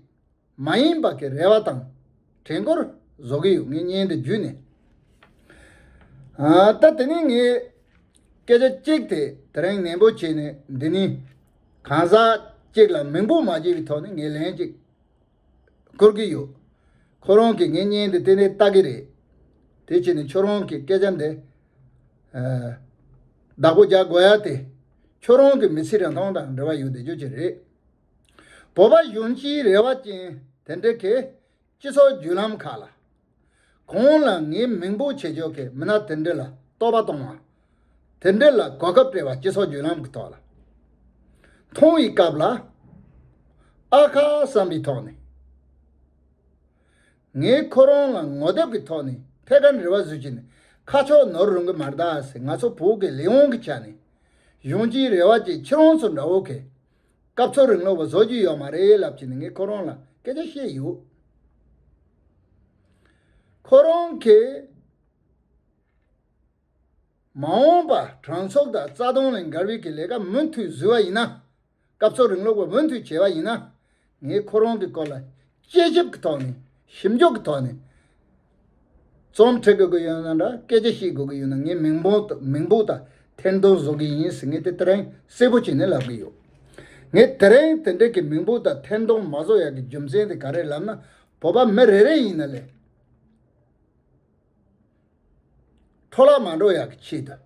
མ་ཡིན་པ་གི་རེ་བ་དང་དྲན་སྐོར་བཟོ་གི་ཡོད་ངས་བརྙན་དེ་བརྒྱུད་ནས། ད་དེ་ནས་ངས་སྐད་ཆ་གཅིག་དེ་དེ་རིང་ནན་པོ་བྱས་ནས་འདི་ནས་གང་ཟག་གཅིག་ལ་མིང་པོ་མ་བརྗེ་བའི་ཐོག་ནས་ངས་ལན་གཅིག་ཁུར་གི་ཡོད། ཁོ་རང་གིས་ངའི་བརྙན་དེ་དེ་ནས་ལྟ་གི་རེད། དེ་ཕྱིན་ནས་ཁྱོད་རང་གིས་སྐད་ཆ་འདི་བདག་པོ་རྒྱག་དགོས་ཡ་དེ་ཁྱོད་རང་གི་མི་ཚེ་རིང་ཐུང་དང་འབྲེལ་བ་ཡོད་དེ་ཅོ་ཅི་རེད། བོད་པ་གཞོན་སྐྱེས་རེ་བ་ཅན་དེ་འདྲེ་གས་སྤྱི་ཚོགས་བརྒྱུད་ལམ་ཁག་ལ། གང་ལ་ངའི་མིང་པོ་བྱེད་ཆོག་གས་མི་ན་དེ་འདྲེ་ལ་བསྟོད་པ་གཏོང་བ། དེ་འདྲེ་ལ་གོ་སྐབས་སྤྲེལ་བ་སྤྱི་ཚོགས་བརྒྱུད་ལམ་གི་ཐོག་ལ་མཐོང་བའི་སྐབས་ལ། ཨ་ཁ་བསམ་པའི་ཐོག་ནས། ངས་ཁོ་རང་ལ་ངོ་དེབ་གི་ཐོག་ནས་ཕེ་ཁ་འདྲེ་བ་བཟོས་ཀྱི་ནས་ཁ་ཕྱོགས་ནོར་རུང་གི་མ་རྡ་ས་ང་ཚོ་བོད་ཀྱི་ལས་དབང་གི་ཆ་ནས་གཞོན་སྐྱེས་རེ་བ་ཅན་ཁྱེད་རང་ཚོ་འདྲ་བོ་གས་སྐབས་ཚོར་རིང་ལོ་བ་བཟོ་རྒྱུ་ཡོད་མ་རེད་ལབ་ཀྱི་ནི་ངས་ཁོ་རང་ལ་སྐད་ཆ་བཤད་ཡོད། ཁོ་རང་གིས་མ་འོངས་པ་གྲང་ཚོགས་དང་རྩ་སྟོང་ལས་འགར་བིག་གི་ལས་ཀ་མུ་མཐུད་བཟོས་བ་ཡིན་ན། སྐབས་ཚོར་རིང་ལོ་བ་འུ་མཐུད་བྱས་བ་ཡིན་ན། ངས་ཁོ་རང་གི་སྐོར་ལ་དཔྱད་ཞིབ་ཀྱི་ཐོག་ནས་ཞིབ་འཇུག་གི་ཐོག་ནས་རྩོམ་འབྲི་དགོས་ཀྱི་ཡོད་ན་འདྲ་སྐད་ཆ་བཤད་དགོས་ཀྱི་ཡོད་ན་ངས་མིང་པོད་དང་ཐེར་འདོན་བཟོ་གི་ཡིན་ཟེར་ངས་དེ་དེ་རིང་གསལ་པོ་བྱས་ནས་ལབ་ཀྱི་ཡོད། ངས་དེ་རིང་དེ་འདྲའི་གི་མིང་པོད་དང་ཐེར་འདོན་མ་བཟོ་ཡག་གི་རྒྱུ་མཚན་དེ་ག་རེད་ལབ་ན་བོད་པ་མི་རེ་རེ་ཡིན་ན་ལས། འཕྲོ་བརླག་མ་འགྲོ་ཡག་གི་ཆེད་དུ།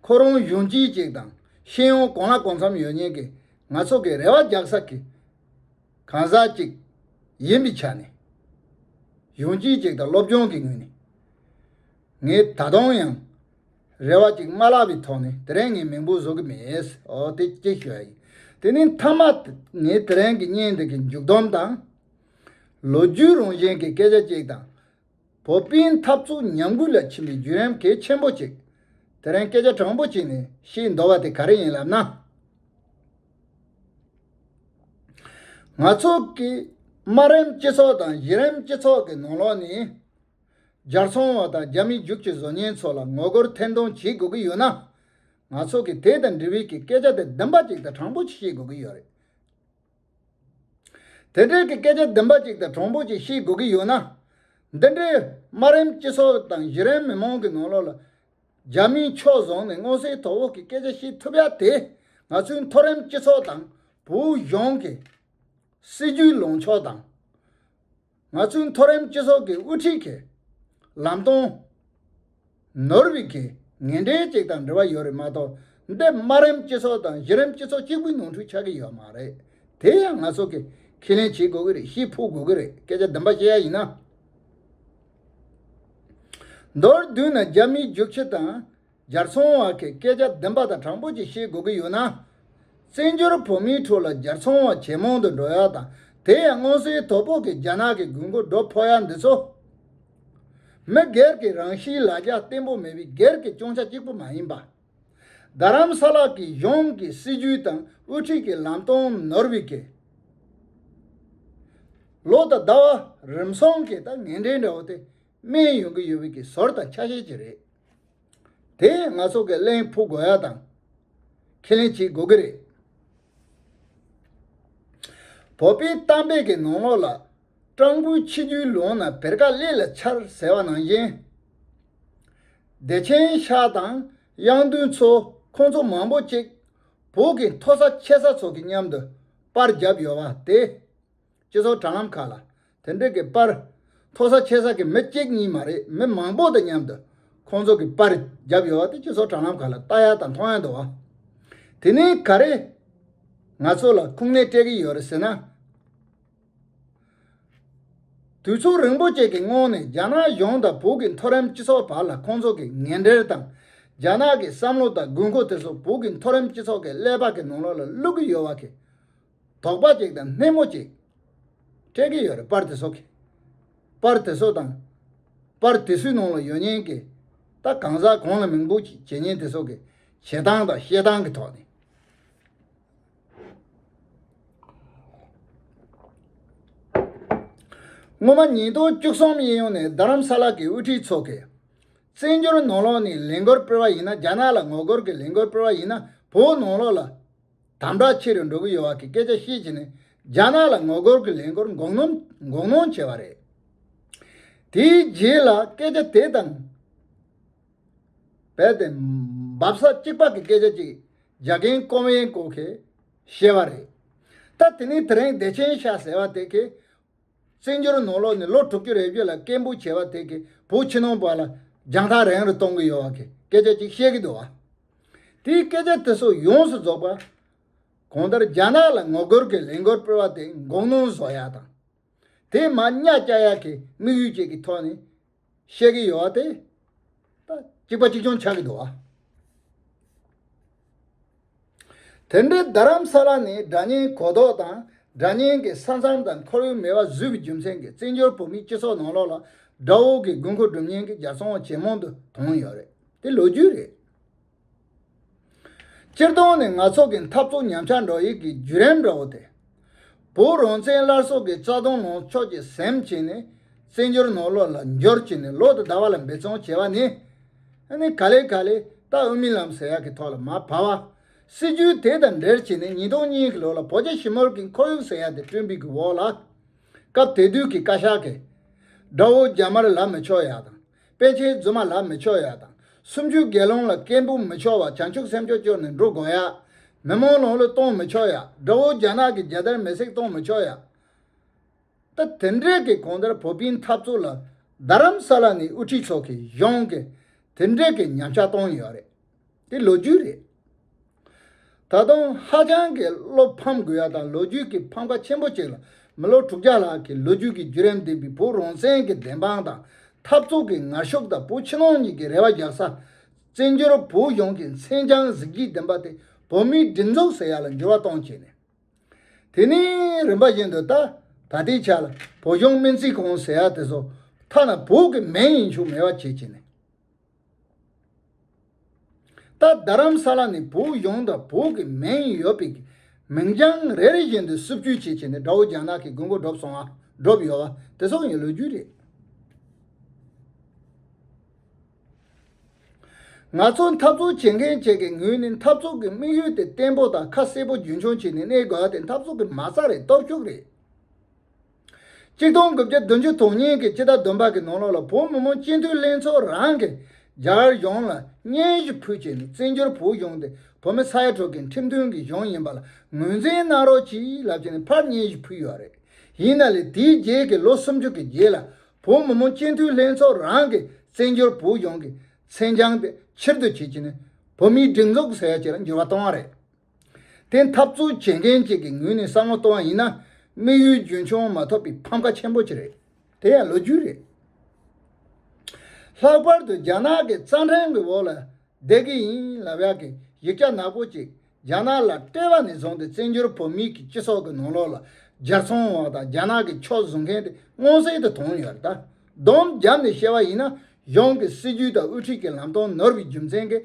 ཁོ་རང་གཞུང་ཅི་ཅིག་དང་ཤེས་ཡོན་གང་ལ་གང་འཚམ་ཡོད་ཉན་གི་ང་ཚོ་གི་རེ་བ་རྒྱག་ས་གི་གང་ཟག་ཅིག་ཡིན་པའི་ཆ་ནས། གཞུང་ཅི་ཅིག་དང་སློབ་སྦྱོང་གི་ངོས་ནས། ངས་ད་དུང་ཡང་རེ་བ་ཅིག་མ་བརླག་པའི་ཐོག་ནས་དེ་རིང་ངས་མིང་པོ་བཟོ་གི་མེད། འོ་དེ་གཅིག་ཞུ་ཡ་ཡིན། དེ་ནས་མཐའ་མ་ངས་དེ་རིང་གི་བརྙན་འདི་གི་མཇུག་བསྡོམས་དང། ལོ་རྒྱུས་རང་བཞིན་གི་སྐད་ཆ་ཅིག་དང། བོད་དཔོན་འཐབ་རྩོད་ཉམས་རྒུད་ལ་ཕྱིན་པའི་བརྒྱུད་རིམ་གལ་ཆེན་པོ་གཅིག་དེ་རིང་སྐད་ཆ་དྲང་པོ་བྱས་ནས་བཤད་འདོད་པ་དེ་ག་རེ་ཡིན་ལབ་ན། ང་ཚོ་གི་དམའ་རིམ་སྤྱི་ཚོགས་དང་གཞི་རིམ་སྤྱི་ཚོགས་ཀྱི་ནང་ལོགས་ནས་རྒྱ་ཚོང་བ་དང་རྒྱ་མི་རྒྱུག་ཆེ་བཟོ་ཉེན་ཚོ་ལ་ངོ་རྒོལ་ཐེར་འདོན་བྱེད་དགོས་ཀྱི་ཡོད་ན། ང་ཚོ་གི་དེ་དང་འབྲེལ་བའི་གི་སྐད་ཆ་དེ་བདུན་པ་གཅིག་དང་དྲང་པོ་བཤད་དགོས་ཀྱི་ཡོད་རེད། དེ་འབྲེལ་གྱི་སྐད་ཆ་བདུན་པ་ཅིག་དང་གྲོང་སྦུག་ཅིག་ཤེས་དགོས་ཀྱི་ཡོད་ན། འདི་འདྲའི་དམའ་རིམ་སྤྱི་ཚོགས་དང་གཞི་རིམ་མི་མང་གི་ནང་ལོགས་ལ། རྒྱ་མིས་ཕྱོགས་བཟུང་ནས་སྔོན་སྲིད་དོ་བོ་གི་སྐད་ཆ་ཤེས་ཐུབ་ཡ་དེ་ང་ཚོའི་མཐོ་རིམ་སྤྱི་ཚོགས་དང་བོའུ་གཞུང་གི་སྲིད་ཇུས་ལངས་ཕྱོགས་དང། ང་ཚོའི་མཐོ་རིམ་སྤྱི་ཚོགས་ཀྱི་དབུ་ཁྲིད་ཀྱིས་ལམ་སྟོན། ནོར་བྷི་གི་ངན་འབྲེལ་ཅིག་དང་འབྲེལ་བ་ཡོད་རེད་མ་གཏོགས་འདི་དམའ་རིམ་སྤྱི་ཚོགས་དང་གཞི་རིམ་སྤྱི་ཚོགས་གཅིག་པུའི་ནོར་འཁྲུལ་ཆགས་ཀྱི་ཡོད་མ་རེད། དེ་ཡང་ང་ཚོ་གིས་ཁས་ལེན་བྱེད་དགོས་ཀྱི་རེད་ཤེས་ཕོད་དགོས་ཀྱི་རེད་སྐད་ཆ་བདུན་པ་བཤད་ཡ་ཡིན་ན། མདོར་བསྡུས་ན་རྒྱ་མིའི་རྒྱུགས་ཁྱི་དང་ལྗར་ཚོང་བ་གི་སྐད་ཆ་བདེན་པ་དང་དྲང་པོ་ཅིག་ཤེས་དགོས་ཀྱི་ཡོད་ན། བཙན་བྱོལ་བོད་མིའི་ཁྲོད་ལ་ལྗར་ཚོང་བ་ཇེ་མང་དུ་འགྲོ་ཡ་དང་དེ་ཡང་སྔོན་སིལ་ཏོག་ཕོག་གི་རྒྱ་ནག་གི་དགོས་མཁོ་སྒྲུབ་ཕོག་ཡ་འདི་ཚོ། མི་སྒེར་གྱི་རང་གཤིས་ལ་རྒྱ་བརྟན་པོ་མེད་པའི་སྒེར་གྱི་སྐྱོང་ཆ་གཅིག་པུ་མ་ཡིན་པ། རྡ་རམ་ས་ལ་གི་གཞུང་གི་སྲིད་ཇུས་དང་དབུ་ཁྲིད་ཀྱི་ལམ་སྟོན་ནོར་བྷི་གི་ལོ་དང་ཟླ་བ་རིམ་སོང་གི་དང་ངན་འབྲེལ་འདྲ་བོ་དེ་སྨན་ཡོང་གི་ཡོད་བོད་ཀྱི་ཟོར་དང་ཆ་ཤས་ཅིག་རེད། དེ་ཡིན་ང་སོགས་ཀྱི་གླེང་ཕོག་དགོས་ཡ་དང། ཁས་ལེན་བྱེད་དགོས་ཀྱི་རེད། བོད་པའི་གཏམ་དཔེ་གྱི་ནང་ལོགས་ལ། སྤྲང་པོའི་ཆིག་རྒྱུན་ལོང་ན་བེར་ཀ་ཀླད་ལ་འཆར་ཟེར་བ་ནང་བཞིན། བདེ་ཆེན་ཤག་དང་དབྱངས་མདུན་ཚོ་ཁོང་ཚོ་མང་པོ་གཅིག་བོད་ཀྱི་མཐོ་ས་ཆེ་ས་ཚོ་གི་མཉམ་དུ་པར་བརྒྱབ་ཡོད་པ་དེ། སྤྱི་ཚོགས་དྲ་ལམ་ཁག་ལ་དེ་འབྲེལ་གྱི་པར། མཐོ་ས་ཆེ་ས་ཀྱི་མི་གཅིག་གཉིས་མ་རེད་མི་མང་པོ་དང་མཉམ་དུ་ཁོང་ཚོ་གི་པར་བརྒྱབ་ཡོད་དེ་སྤྱི་ཚོགས་དྲ་ལམ་ཁག་ལ་ལྟ་ཡག་དང་མཐོང་ཡག་འདུག་བ། དེ་ནས་ག་རེ་ང་ཚོ་ལ་ཁུངས་སྣེ་སྤྲད་གི་ཡོད་རེད་ཟེར་ན། དུས་ཚོད་རིང་པོ་བཅས་ཀྱི་སྔོན་ནས་རྒྱ་ནག་གཞུང་དང་བོད་ཀྱི་མཐོ་རིམ་སྤྱི་ཚོགས་བར་ལ་ཁོང་ཚོ་གི་ངན་འབྲེལ་དང། རྒྱ་ནག་གི་བསམ་བློ་དང་དགོས་མཁོ་དེ་ཚོ་བོད་ཀྱི་མཐོ་རིམ་སྤྱི་ཚོགས་ཀྱི་ཀླད་པ་ཀྱི་ནང་ལོགས་ལ་བླུག་གི་ཡོད་བ་ཁེ། དོག་པ་ཅིག་དང་སྣེ་མོ་ཅིག། སྤྲད་ཀྱི་ཡོད་རེད་པར་དེ་སོགས་ཀྱི། པར་དེ་སོགས་དང། པར་དེ་སུའི་ནང་ལ་ཡོད་ཉན་གི། ད་གང་ཟག་གང་ལ་མིང་འབོད་ཅིག་བྱེད་ཉན་དེ་སོགས་ཀྱི། བྱེད་སྟངས་དང་བཤད་སྟངས་ཀྱི་ཐོག་ནས། སྔོན་མ་ཉིས་སྟོང་བཅུ་གསུམ་དབྱིན་ཡུལ་ནས་རྡ་རམ་ས་ལ་གྱི་དབུ་ཁྲིད་ཚོགས་ཀྱིས། བཙན་བྱོལ་ནང་ལོགས་ནས་ལས་འགུལ་སྤེལ་བ་ཡིན་ན་རྒྱ་ནག་ལ་ངོ་རྒོལ་གྱི་ལས་འགུལ་སྤེལ་བ་ཡིན་ན་བོད་ནང་ལོགས་ལ། དམ་དྲག་ཆེ་རུ་འགྲོ་གི་ཡོད་བ་གི་སྐད་ཆ་བཤད་བྱེད་ནི་རྒྱ་ནག་ལ་ངོ་རྒོལ་གི་ལས་འགོར་འགོག་སྣོམ་འགོག་སྣོང་བྱས་བ་རེད། དེའི་རྗེས་ལ་སྐད་ཆ་དེ་དང་རྦད་དེ་འབབ་ས་གཅིག་པ་གི་སྐད་ཆ་གཅིག་རྒྱ་རྒན་ཀོམ་ཡེན་ཀོ་གིས་བཤད་བ་རེད། ད་དེ་ནི་དེ་རིང་བདེ་ཆེན་ཤག་ཟེར་བ་དེ་གིས། བཙན་བྱོལ་ནང་ལོ་ནས་ལོ་དྲུག་ཅུ་རེ་བརྒྱུད་ལ་སྐད་འབོད་བྱེད་པ་དེ་གིས་བོད་ཕྱི་ནང་བར་ལ་རྒྱང་ཐག་རིང་རུ་གཏོང་གི་ཡོད་བ་གི་སྐད་ཆ་ཅིག་བཤད་གི་འདུག་བ། དེའི་སྐད་ཆ་དེ་ཚོ་ཡོངས་སུ་རྫོགས་པ། གང་ལྟར་རྒྱ་ནག་ལ་ངོ་རྒོལ་གི་ལས་འགུལ་སྤེལ་བ་དེ་འགོག་གནོན་བཟོ་ཡག་དང། དེས་མ་གཉའ་བཅའ་ཡག་གི་དམིགས་ཡུལ་བཅས་ཀྱི་ཐོག་ནས་བཤད་ཀྱི་ཡོད་དེ། གཅིག་པ་གཅིག་སྐྱོང་ཆགས་ཀྱི་འདུག་བ། དེ་འབྲེལ་རྡ་རམ་ས་ལ་ནི་སྒྲ་སྙན་གོ་ལྡོག་དང་སྒྲ་སྙན་གྱི་ས་མཚམས་དང་ཁོར་ཡུག་མེད་པ་བཟོས་པའི་རྒྱུ་མཚན་གྱིས་བཙན་བྱོལ་བོད་མིའི་སྤྱི་ཚོགས་ནང་ལོགས་ལ་དགྲ་བོ་གི་དགོས་མཁོ་སྒྲུབ་ཉེན་གྱི་རྒྱ་མཚོ་བ་ཇེ་མང་དུ་དོང་ཡོད་རེད་དེ་ལོ་རྒྱུས་རེད། སྤྱིར་བཏང་ནི་ནག་ཚོགས་ཀྱི་འཐབ་རྩོད་ཉམས་ཆག་འགྲོ་ཡི་གི་བརྒྱུད་རིམ་འདྲ་བོ་སྟེ། བོད་རང་བཙན་སླར་གསོ་གི་རྩ་དོན་ནང་ཕྱོགས་ཀྱི་སེམས་བསྐྱེད་ནས་བཙན་བྱོལ་ནང་ལོགས་ལ་འབྱོར་གྱི་ནས་ལོགས་དུ་དར་བ་ལ་འབད་བརྩོན་བྱས་བ་ནི། ནི་ག་ལེ་ག་ལེ་ལྟ་འུ་མི་ལམ་ཟེར་ཡག་གི་ཐོག་ལ་མ་བབས་བ། སྲིད་བྱུས་དེ་དང་འབྲེལ་གྱི་ནས་ཉིས་སྟོང་གཉིས་གི་ལོ་ལ་བོད་རྒྱ་ཞི་མོལ་གི་འཁོར་ཡུག་ཟེར་ཡག་དེ་བསྐྲུན་པི་གི་འོག་ལ། སྐབས་དེ་དུས་གི་བཀའ་ཤག་གི། དགྲ་བོ་རྒྱ་དམར་ལ་མི་ཆོག་ཡག་དང། དཔལ་ཆེན་རྫུན་མ་ལག་མི་ཆོད་ཡ་དང། སུམ་ཅུའི་དགེ་སློང་ལ་སྐད་འབུམ་མི་ཆོག་བ་བྱང་ཆུབ་སེམས་ཕྱོགས་བཅུར་ནི་འགྲོ་དགོས་ཡ། མི་མོ་ལོང་ལུས་གཏོང་མི་ཆོག་ཡ། དགྲ་བོ་རྒྱ་ནག་གི་རྒྱལ་དར་མེ་བསྲེགས་གཏོང་མི་ཆོག་ཡ། ད་དེ་འདྲས་ཀྱི་གོང་དར་བོ་པིན་འཐབ་རྩོད་ལ། རྡ་རམ་ས་ལ་ནི་དབུ་ཁྲིད་མཆོག་གིས་གཞུང་གིས་དེ་འདྲས་ཀྱི་ཉམས་ཆག་གཏོང་ཡོད་རེད། དེ་ལོ་རྒྱུས་རེད། ད་དུང་ཧ་ཅང་གི་བློ་ཕམ་དགོས་ཡ་དང་ལོ་རྒྱུས་ཀྱི་ཕམ་ཁ་ཆེན་པོ་ཅིག་ལ་མི་ལོ་དྲུག་བརྒྱ་ལྷག་གི་ལོ་རྒྱུས་ཀྱི་བརྒྱུད་རིམ་ལྡན་པའི་བོད་རང་བཙན་གྱི་བདེན་དཔང་དང་འཐབ་རྩོད་ཀྱི་ངར་ཤུགས་དང་བོད་ཕྱི་ནང་གཉིས་ཀྱི་རེ་བ་རྒྱག་ས། བཙན་བྱོལ་བོད་ཡོངས་ཀྱི་མཚན་བྱང་གཟི་བརྗིད་ལྡན་པ་དེ་བོད་མིའི་སྒྲིག་འཛུགས་ཟེར་ཡ་ལ་འགྱུར་བ་གཏོང་བྱས་ནས། དེ་ནས་རིམ་པ་བཞིན་དུ་ད་ད་ལྟའི་ཆ་ལ་བོད་གཞུང་སྨན་རྩིས་ཁང་ཟེར་ཡ་དེ་ཚོ་ཐ་ན་བོད་ཀྱི་མིང་ཡིན་ཆོག་མེད་པ་བྱས་བྱས་ནས། རྟ་རྡ་རམ་ས་ལ་ནི་བོད་ཡོངས་དང་བོད་ཀྱི་མིང་ཡོད་པའི་མིང་བྱང་རེ་རེ་བཞིན་དུ་བསུབ་བསྐྱུར་བྱས་བྱས་ནས་དགྲ་བོ་རྒྱ་ནག་གི་དགོས་མཁོ་སྒྲུབ་སོང་བ་སྒྲུབ་ཡོད་བ་དེ་སོག་ཡིན་ལོས་རྒྱུས་རེད། ང་ཚོ་འཐབ་རྩོད་བྱེད་མཁན་བཅས་ཀྱི་ངོས་ནས་འཐབ་རྩོད་ཀྱི་དམིགས་ཡུལ་དེ་བརྟན་པོ་དང་ཁ་གསལ་པོ་རྒྱུན་འཁྱོངས་བྱས་ནས་གནས་དགོས་བ་དེ་འཐབ་རྩོད་ཀྱི་མ་རྩ་རེད་སྟོབས་ཤུགས་རེད། གཅིག་སྟོང་དགུ་བརྒྱ་བདུན་ཅུ་དོན་གཉིས་ཀྱི་སྤྱི་ཟླ་བདུན་པ་གི་ནང་ལོགས་ལ་བོད་མི་མང་སྤྱི་འཐུས་ལྷན་ཚོགས་རང་གིས་རྒྱ་གཞུང་ལ་སྙན་ཞུ་ཕུལ་བྱས་ནས་བཙན་བྱོལ་བོད་གཞུང་དེ་བོད་མི་ས་ཡ་དྲུག་གི་ཁྲིམས་མཐུན་གྱི་གཞུང་ཡིན་པ་ལ་ངོས་འཛིན་གནང་རོགས་ཅེས་ལབ་བྱས་ནས་ཕར་སྙན་ཞུ་ཕུལ་ཡོད་པ་རེད། ཡིན་ན་ལས་དེའི་རྗེས་ཀྱི་ལོ་སུམ་ཅུ་གྱི་རྗེས་ལ་བོད་མི་མང་སྤྱི་འཐུས་ལྷན་ཚོགས་རང་གིས་བཙན་བྱོལ་བོད་གཞུང་གི་མཚན་བྱང་དེ་ཕྱིར་བསྡུ་བྱེད་ཀྱི་ནས་བོད་མིའི་སྒྲིག་འཛུགས་ས་ཡ་གཅིག་ལ་འགྱུར་བ་བཏང་བ་རེད། དེ་འཐབ་རྩོད་བྱེད་མཁན་གཅིག་གི་ངོས་ནས་བསམ་བློ་གཏོང་བ་ཡིན་ན། དམིགས་ཡུལ་རྒྱུན་འཁྱོངས་མ་ཐོབ་པའི་ཕམ་ཁ་ཆེན་པོ་གཅིག་རེད། དེ་ཡང་ལོ་རྒྱུས་རེད། ལྷག་པར་དུ་རྒྱ་ནག་གི་རྩ་འཕྲེང་གི་འོག་ལ་བསྡད་ཀྱི་ཡིན་ལབ་ཡག་གི་ཡིག་ཆ་ནག་པོ་གཅིག་རྒྱ་ནག་ལ་སྤྲད་པ་ནས་བཟུང་སྟེ་བཙན་བྱོལ་བོད་མིའི་སྤྱི་ཚོགས་ཀྱི་ནང་ལོགས་ལ་རྒྱལ་ཚོང་བ་དང་རྒྱ་ནག་གི་ཕྱོགས་བཟུང་མཁན་དེ་མངོན་གསལ་དུ་མཐོང་ཡོད་རེད་ད། བསྡོམས་བརྒྱབ་ནས་བཤད་པ་ཡིན་ན་གཞུང་གི་སྲིད་ཇུས་དང་དབུ་ཁྲིད་ཀྱི་ལམ་སྟོན་ནོར་བའི་རྒྱུ་མཚན་གྱིས་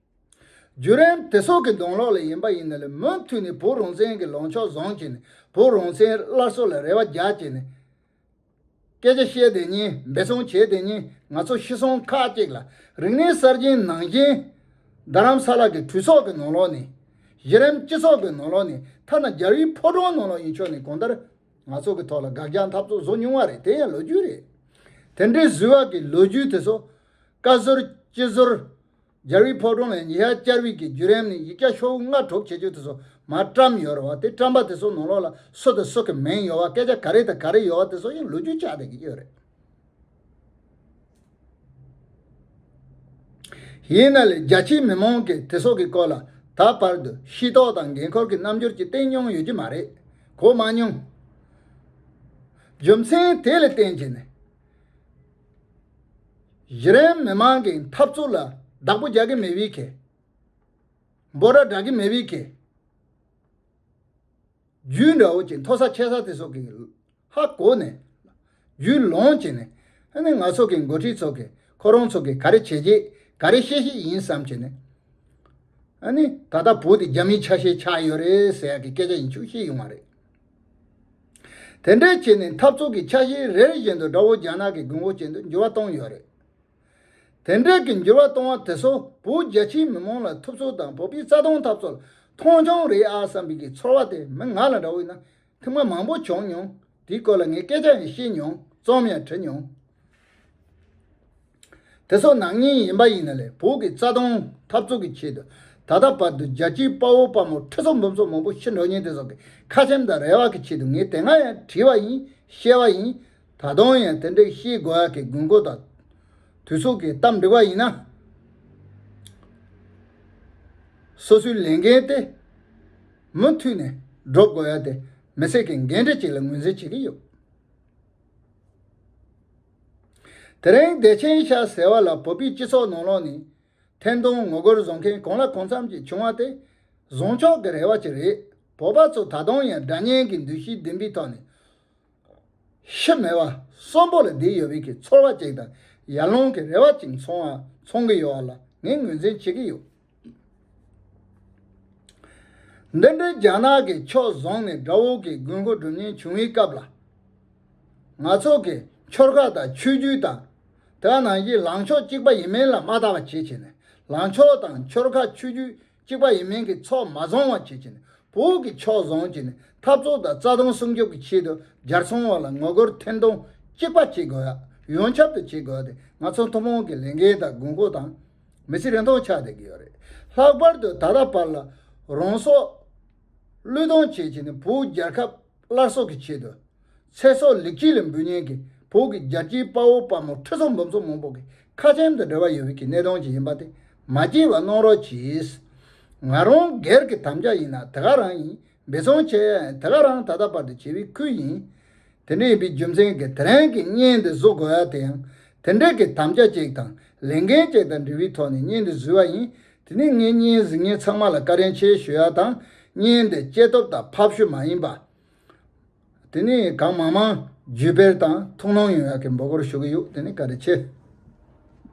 རྒྱུན་རིང་དེ་སྲོག་གི་གདོང་གློག་ལས་ཡིན་པ་ཡིན་ནའི་མུ་མཐུད་ནས་བོད་རང་བཙན་གྱི་ལངས་ཕྱོགས་བཟང་གྱི་ནས་བོད་རང་བཙན་སླར་གསོ་ལ་རེ་བ་རྒྱག་གྱི་ནས། སྐད་ཆ་བཤད་དེ་ཉིན་འབད་བརྩོན་བྱེད་དེ་ཉིན་ང་ཚོ་ཤི་སོང་ཁག་ཅིག་ལ་རིག་གནས་གསར་རྗེན་ནང་བཞིན། རྡ་རམ་ས་ལ་གི་གྲུ་ཚོགས་ཀྱི་ནང་ལོགས་ནས། གཞི་རིམ་སྤྱི་ཚོགས་ཀྱི་ནང་ལོགས་ནས་ཐ་ན་རྒྱ་རིགས་ཕོ་བྲང་ནང་ལོགས་ཡིན་ཆོག་ནས་གང་ལྟར། ང་ཚོ་གི་ཐོག་ལ་དགག་རྒྱག་འཐབ་རྩོད་བཟོ་མྱོང་བ་རེད་དེ་ཡང་ལོ་རྒྱུས་རེད། དེ་འདྲའི་བཟི་བ་གི་ལོ་རྒྱུས་དེ་ཚོ། བཀའ་ཟུར་སྤྱི་ཟུར། སྦྱར་བའི་ཕོ་བྲང་ལས་ཉི་ཤར་སྦྱར་བའི་གི་བརྒྱུད་རིམ་ནི་ཡིག་བརྒྱ་ཤོག་བུ་ལྔ་གྲོབ་བྱེད་ཆོས་དེ་སོ་མ་བཀྲམ་ཡོད་རེད་བ་དེ་བཀྲམ་པ་དེ་སོ་ནོར་ལོག་ལ་སོ་དེ་སོག་གི་མིང་ཡོད་བ་སྐད་ཆ་ག་རེ་དང་ག་རེ་ཡོད་བ་དེ་སོག་ཡིན་ལུགས་རྒྱུ་ཆ་དེ་གི་ཡོད་རེད། ཡིན་ན་ལས་རྒྱ་ཆེའི་མི་མང་གི་དེ་སོག་གི་སྐོར་ལ་ད་བར་དུ་ཤེས་རྟོག་དང་འགན་འཁོར་གི་རྣམ་འགྱུར་གྱི་སྟེང་མྱོང་ཡོད་ཀྱི་མ་རེད་གོ་མ་མྱོང། རྒྱུ་མཚན་དེ་ལས་བརྟེན་གྱི་ནི། གཞི་རིམ་མི་མང་གི་འཐབ་རྩོད་ལ་བདག་པོ་རྒྱག་གི་མེད་བས་ཁེ་འབོར་ར་འདྲ་གི་མེད་བས་ཁེ། རྒྱུས་འདྲ་བོ་ཅིག་མཐོ་ས་ཆེ་ས་དེ་སོགས་ཀྱི་ཧ་གོ་ནས་རྒྱུས་ལོངས་ཀྱིས་ནས་ཧ་ནི་ང་ཚོ་གི་འགོ་ཁྲིད་ཚོ་གི་ཁོ་རང་ཚོ་གི་ག་རེ་བྱས་རྗེས་ག་རེ་ཤེས་ཤིག་ཡིན་བསམ་གྱིས་ནས་ཧ་ནི་ད་ལྟ་བོད་དེ་རྒྱ་མིའི་ཆ་ཤས་ཆགས་ཡོད་རེད་ཟེར་ཡག་གི་སྐད་ཆ་ཡིན་ཆུག་ཤེས་ཡོང་བ་རེད། དེ་འདྲའི་ཆེད་ནས་འཐབ་རྩོད་ཀྱི་ཆ་ཤས་རེ་རེ་བཞིན་དུ་དགྲ་བོ་རྒྱ་ནག་གི་དགུན་འོག་ཅན་དུ་འགྱུར་བ་བཏང་ཡོད་རེད། དེ་འདྲའི་གི་འགྱུར་བ་བཏང་བ་དེ་ཚོ་བོད་རྒྱ་ཆེའི་མི་མང་ལ་ཐུབ་ཚོད་དང་བོད་པའི་རྩ་དོན་འཐབ་རྩོད་ལ་མཐོང་ཆུང་རེད་ཨ་བསམ་པའི་གི་ཚོར་བ་དེ་མི་ང་ལ་འདྲ་བོ་ཡིན་ན་ཐེངས་མ་མང་པོ་བྱུང་མྱོང་དེའི་སྐོར་ལ་ངས་སྐད་ཆ་ཡང་བཤད་མྱོང་རྩོམ་ཡང་བྲི་མྱོང། དེ་སོགས་ནང་སྙིང་ཡིན་པ་ཡིན་ན་ལས་བུག་གི་རྩ་སྟོང་འཐབ་རྩོད་ཀྱི་ཆེད་དུ་ད་ལྟ་བར་དུ་རྒྱལ་སྤྱིའི་དཔའ་བོ་དཔའ་མོ་ཁྲི་སོགས་འབུམ་སོགས་མང་པོ་ཤི་འགྲོ་ཉེན་དེ་སོགས་ཀྱི་ཁ་ཆེམས་དང་རེ་བ་གྱི་ཆེད་དུ་ངས་དེ་སྔ་ཡང་བྲིས་པ་ཡིན་བཤད་པ་ཡིན། ད་དུང་ཡང་དེ་འདྲའི་ཤེས་དགོས་ཡག་གི་དགོས་མཁོ་དང། དུས་སུ་གི་གཏམ་འབྲི་བ་ཡིན་ན། སོ་སོའི་ལས་འགན་དེ་མུ་མཐུད་ནས་སྒྲུབ་དགོས་ཡག་དེ་མི་སེར་གྱི་འགན་འཁྲི་ཅིག་ལ་ངོས་འཛིན་བྱེད་ཀྱི་ཡོད། དེ་རིང་བདེ་ཆེན་ཤ་ཟེར་བ་ལ་བོད་པའི་སྤྱི་ཚོགས་ནང་ལོགས་ནས་ཐེར་འདོན་ངོ་རྒོལ་བཟོ་མཁན་གང་ལ་གང་འཚམ་ཞིག་བྱུང་བ་དེ་བཟང་ཕྱོགས་ཀྱི་རེ་བ་ཅིག་རེད་བོད་པ་ཚོ་ད་དུང་ཡང་དགྲ་གཉེན་གྱི་འདུ་ཤེས་ལྡན་པའི་ཐོག་ནས་ཤི་མེད་པ་གསོན་པོ་ལ་བསྡད་ཡོད་པའི་ཚོར་བ་ཅིག་དང་ཡར་ལངས་ཀྱི་རེ་བ་ཅིག་འཚོང་གི་ཡོད་བ་ལ་ངས་ངོས་འཛིན་བྱེད་ཀྱི་ཡོད། འདི་འདྲའི་རྒྱ་ནག་གིས་ཕྱོགས་བཟུང་ནས་དགྲ་བོ་གི་དགོས་མཁོ་སྒྲུབ་ཉེན་བྱུང་བའི་སྐབས་ལ། ང་ཚོ་གིས་ཆོལ་ཁ་དང་ཆོས་བརྒྱུད་དང། དེ་བ་ནང་བཞིན་ལངས་ཕྱོགས་གཅིག་པ་ཡིན་མིན་ལ་མ་བལྟ་བ་བྱེད་ཆེད་ནས་ལངས་ཕྱོགས་དང་ཆོལ་ཁ་ཆོས་བརྒྱུད་གཅིག་པ་ཡིན་མིན་གྱི་ཚོགས་མ་བཟུང་བ་བྱེད་ཆེད་ནས་བོད་ཀྱི་ཕྱོགས་བཟུང་བྱས་ནས་འཐབ་རྩོད་དང་རྩ་དོན་སྲུང་སྐྱོབ་ཀྱི་ཆེད་དུ་རྒྱལ་སྲུང་བ་ལ་ངོ་རྒོལ་འཐེན་གཏོང་གཅིག་པ་བྱེད་དགོས། ཡོངས་ཁྱབ་ཏུ་བྱེད་དགོས་ཏེ་ང་ཚོ་ཐུན་མོང་གི་ལས་འགན་དང་དགོས་མཁོ་དང། མི་ཚེ་རིང་ཐུང་ཆགས་བསྡད་ཀྱི་ཡོད་རེད། ལྷག་པར་དུ་ད་ལྟ་བར་ལ་རང་སྲོག་བློས་གཏོང་བྱེད་བྱེད་ནས་བོད་རྒྱལ་ཁབ་སླར་གསོ་གི་ཆེད་དུ། ཚེ་སྲོག་ལེགས་སྐྱེས་ལས་འབུལ་མཉན་གྱི་བོད་ཀྱི་རྒྱལ་སྤྱིའི་དཔའ་བོ་དཔའ་མོ་ཁྲི་ཚོ་འབུམ་ཚོ་མང་པོ་གི་ཁ་ཆེམས་དང་འབྲེལ་བ་ཡོད་ཀྱི་གནད་དོན་ཅིག་ཡིན་པ་དེ་མ་སྐྱེས་བར་གནང་རོགས་གྱིས། ང་རང་སྒེར་གྱི་དམ་བཅའ་ཡིན་ན་དེ་ག་རང་ཡིན་འབད་བརྩོན་བྱས་ཡ་ཡིན་དེ་ག་རང་ད་ལྟ་བར་དུ་བྱེད་པའི་ཁུལ་ཡིན། དེ་འདྲ་ཡིན་པའི་རྒྱུ་མཚན་གྱིས་དེ་རིང་གི་བརྙན་འདི་བཟོ་དགོས་ཡ་དེ་ཡང་དེ་འདྲ་གི་དམ་བཅའ་ཅིག་དང་ལས་འགན་ཅིག་དང་འབྲེལ་བའི་ཐོག་ནས་བརྙན་འདི་བཟོས་བ་ཡིན། དེ་ནས་ངས་བརྙན་གཟིགས་མཁན་ཚང་མ་ལ་བཀའ་དྲིན་ཆེ་ཞུ་ཡ་དང། བརྙན་འདི་སྐྱེ་སྟོབས་དང་ཕབ་བཤུ་མ་ཡིན་པ། དེ་ནས་གང་མང་མང་བརྒྱུད་སྤེལ་དང་ཐུགས་སྣང་ཡོང་ཡ་གི་འབོད་སྐོར་ཞུ་གི་ཡོད་དེ་ནས་བཀའ་དྲིན་ཆེ།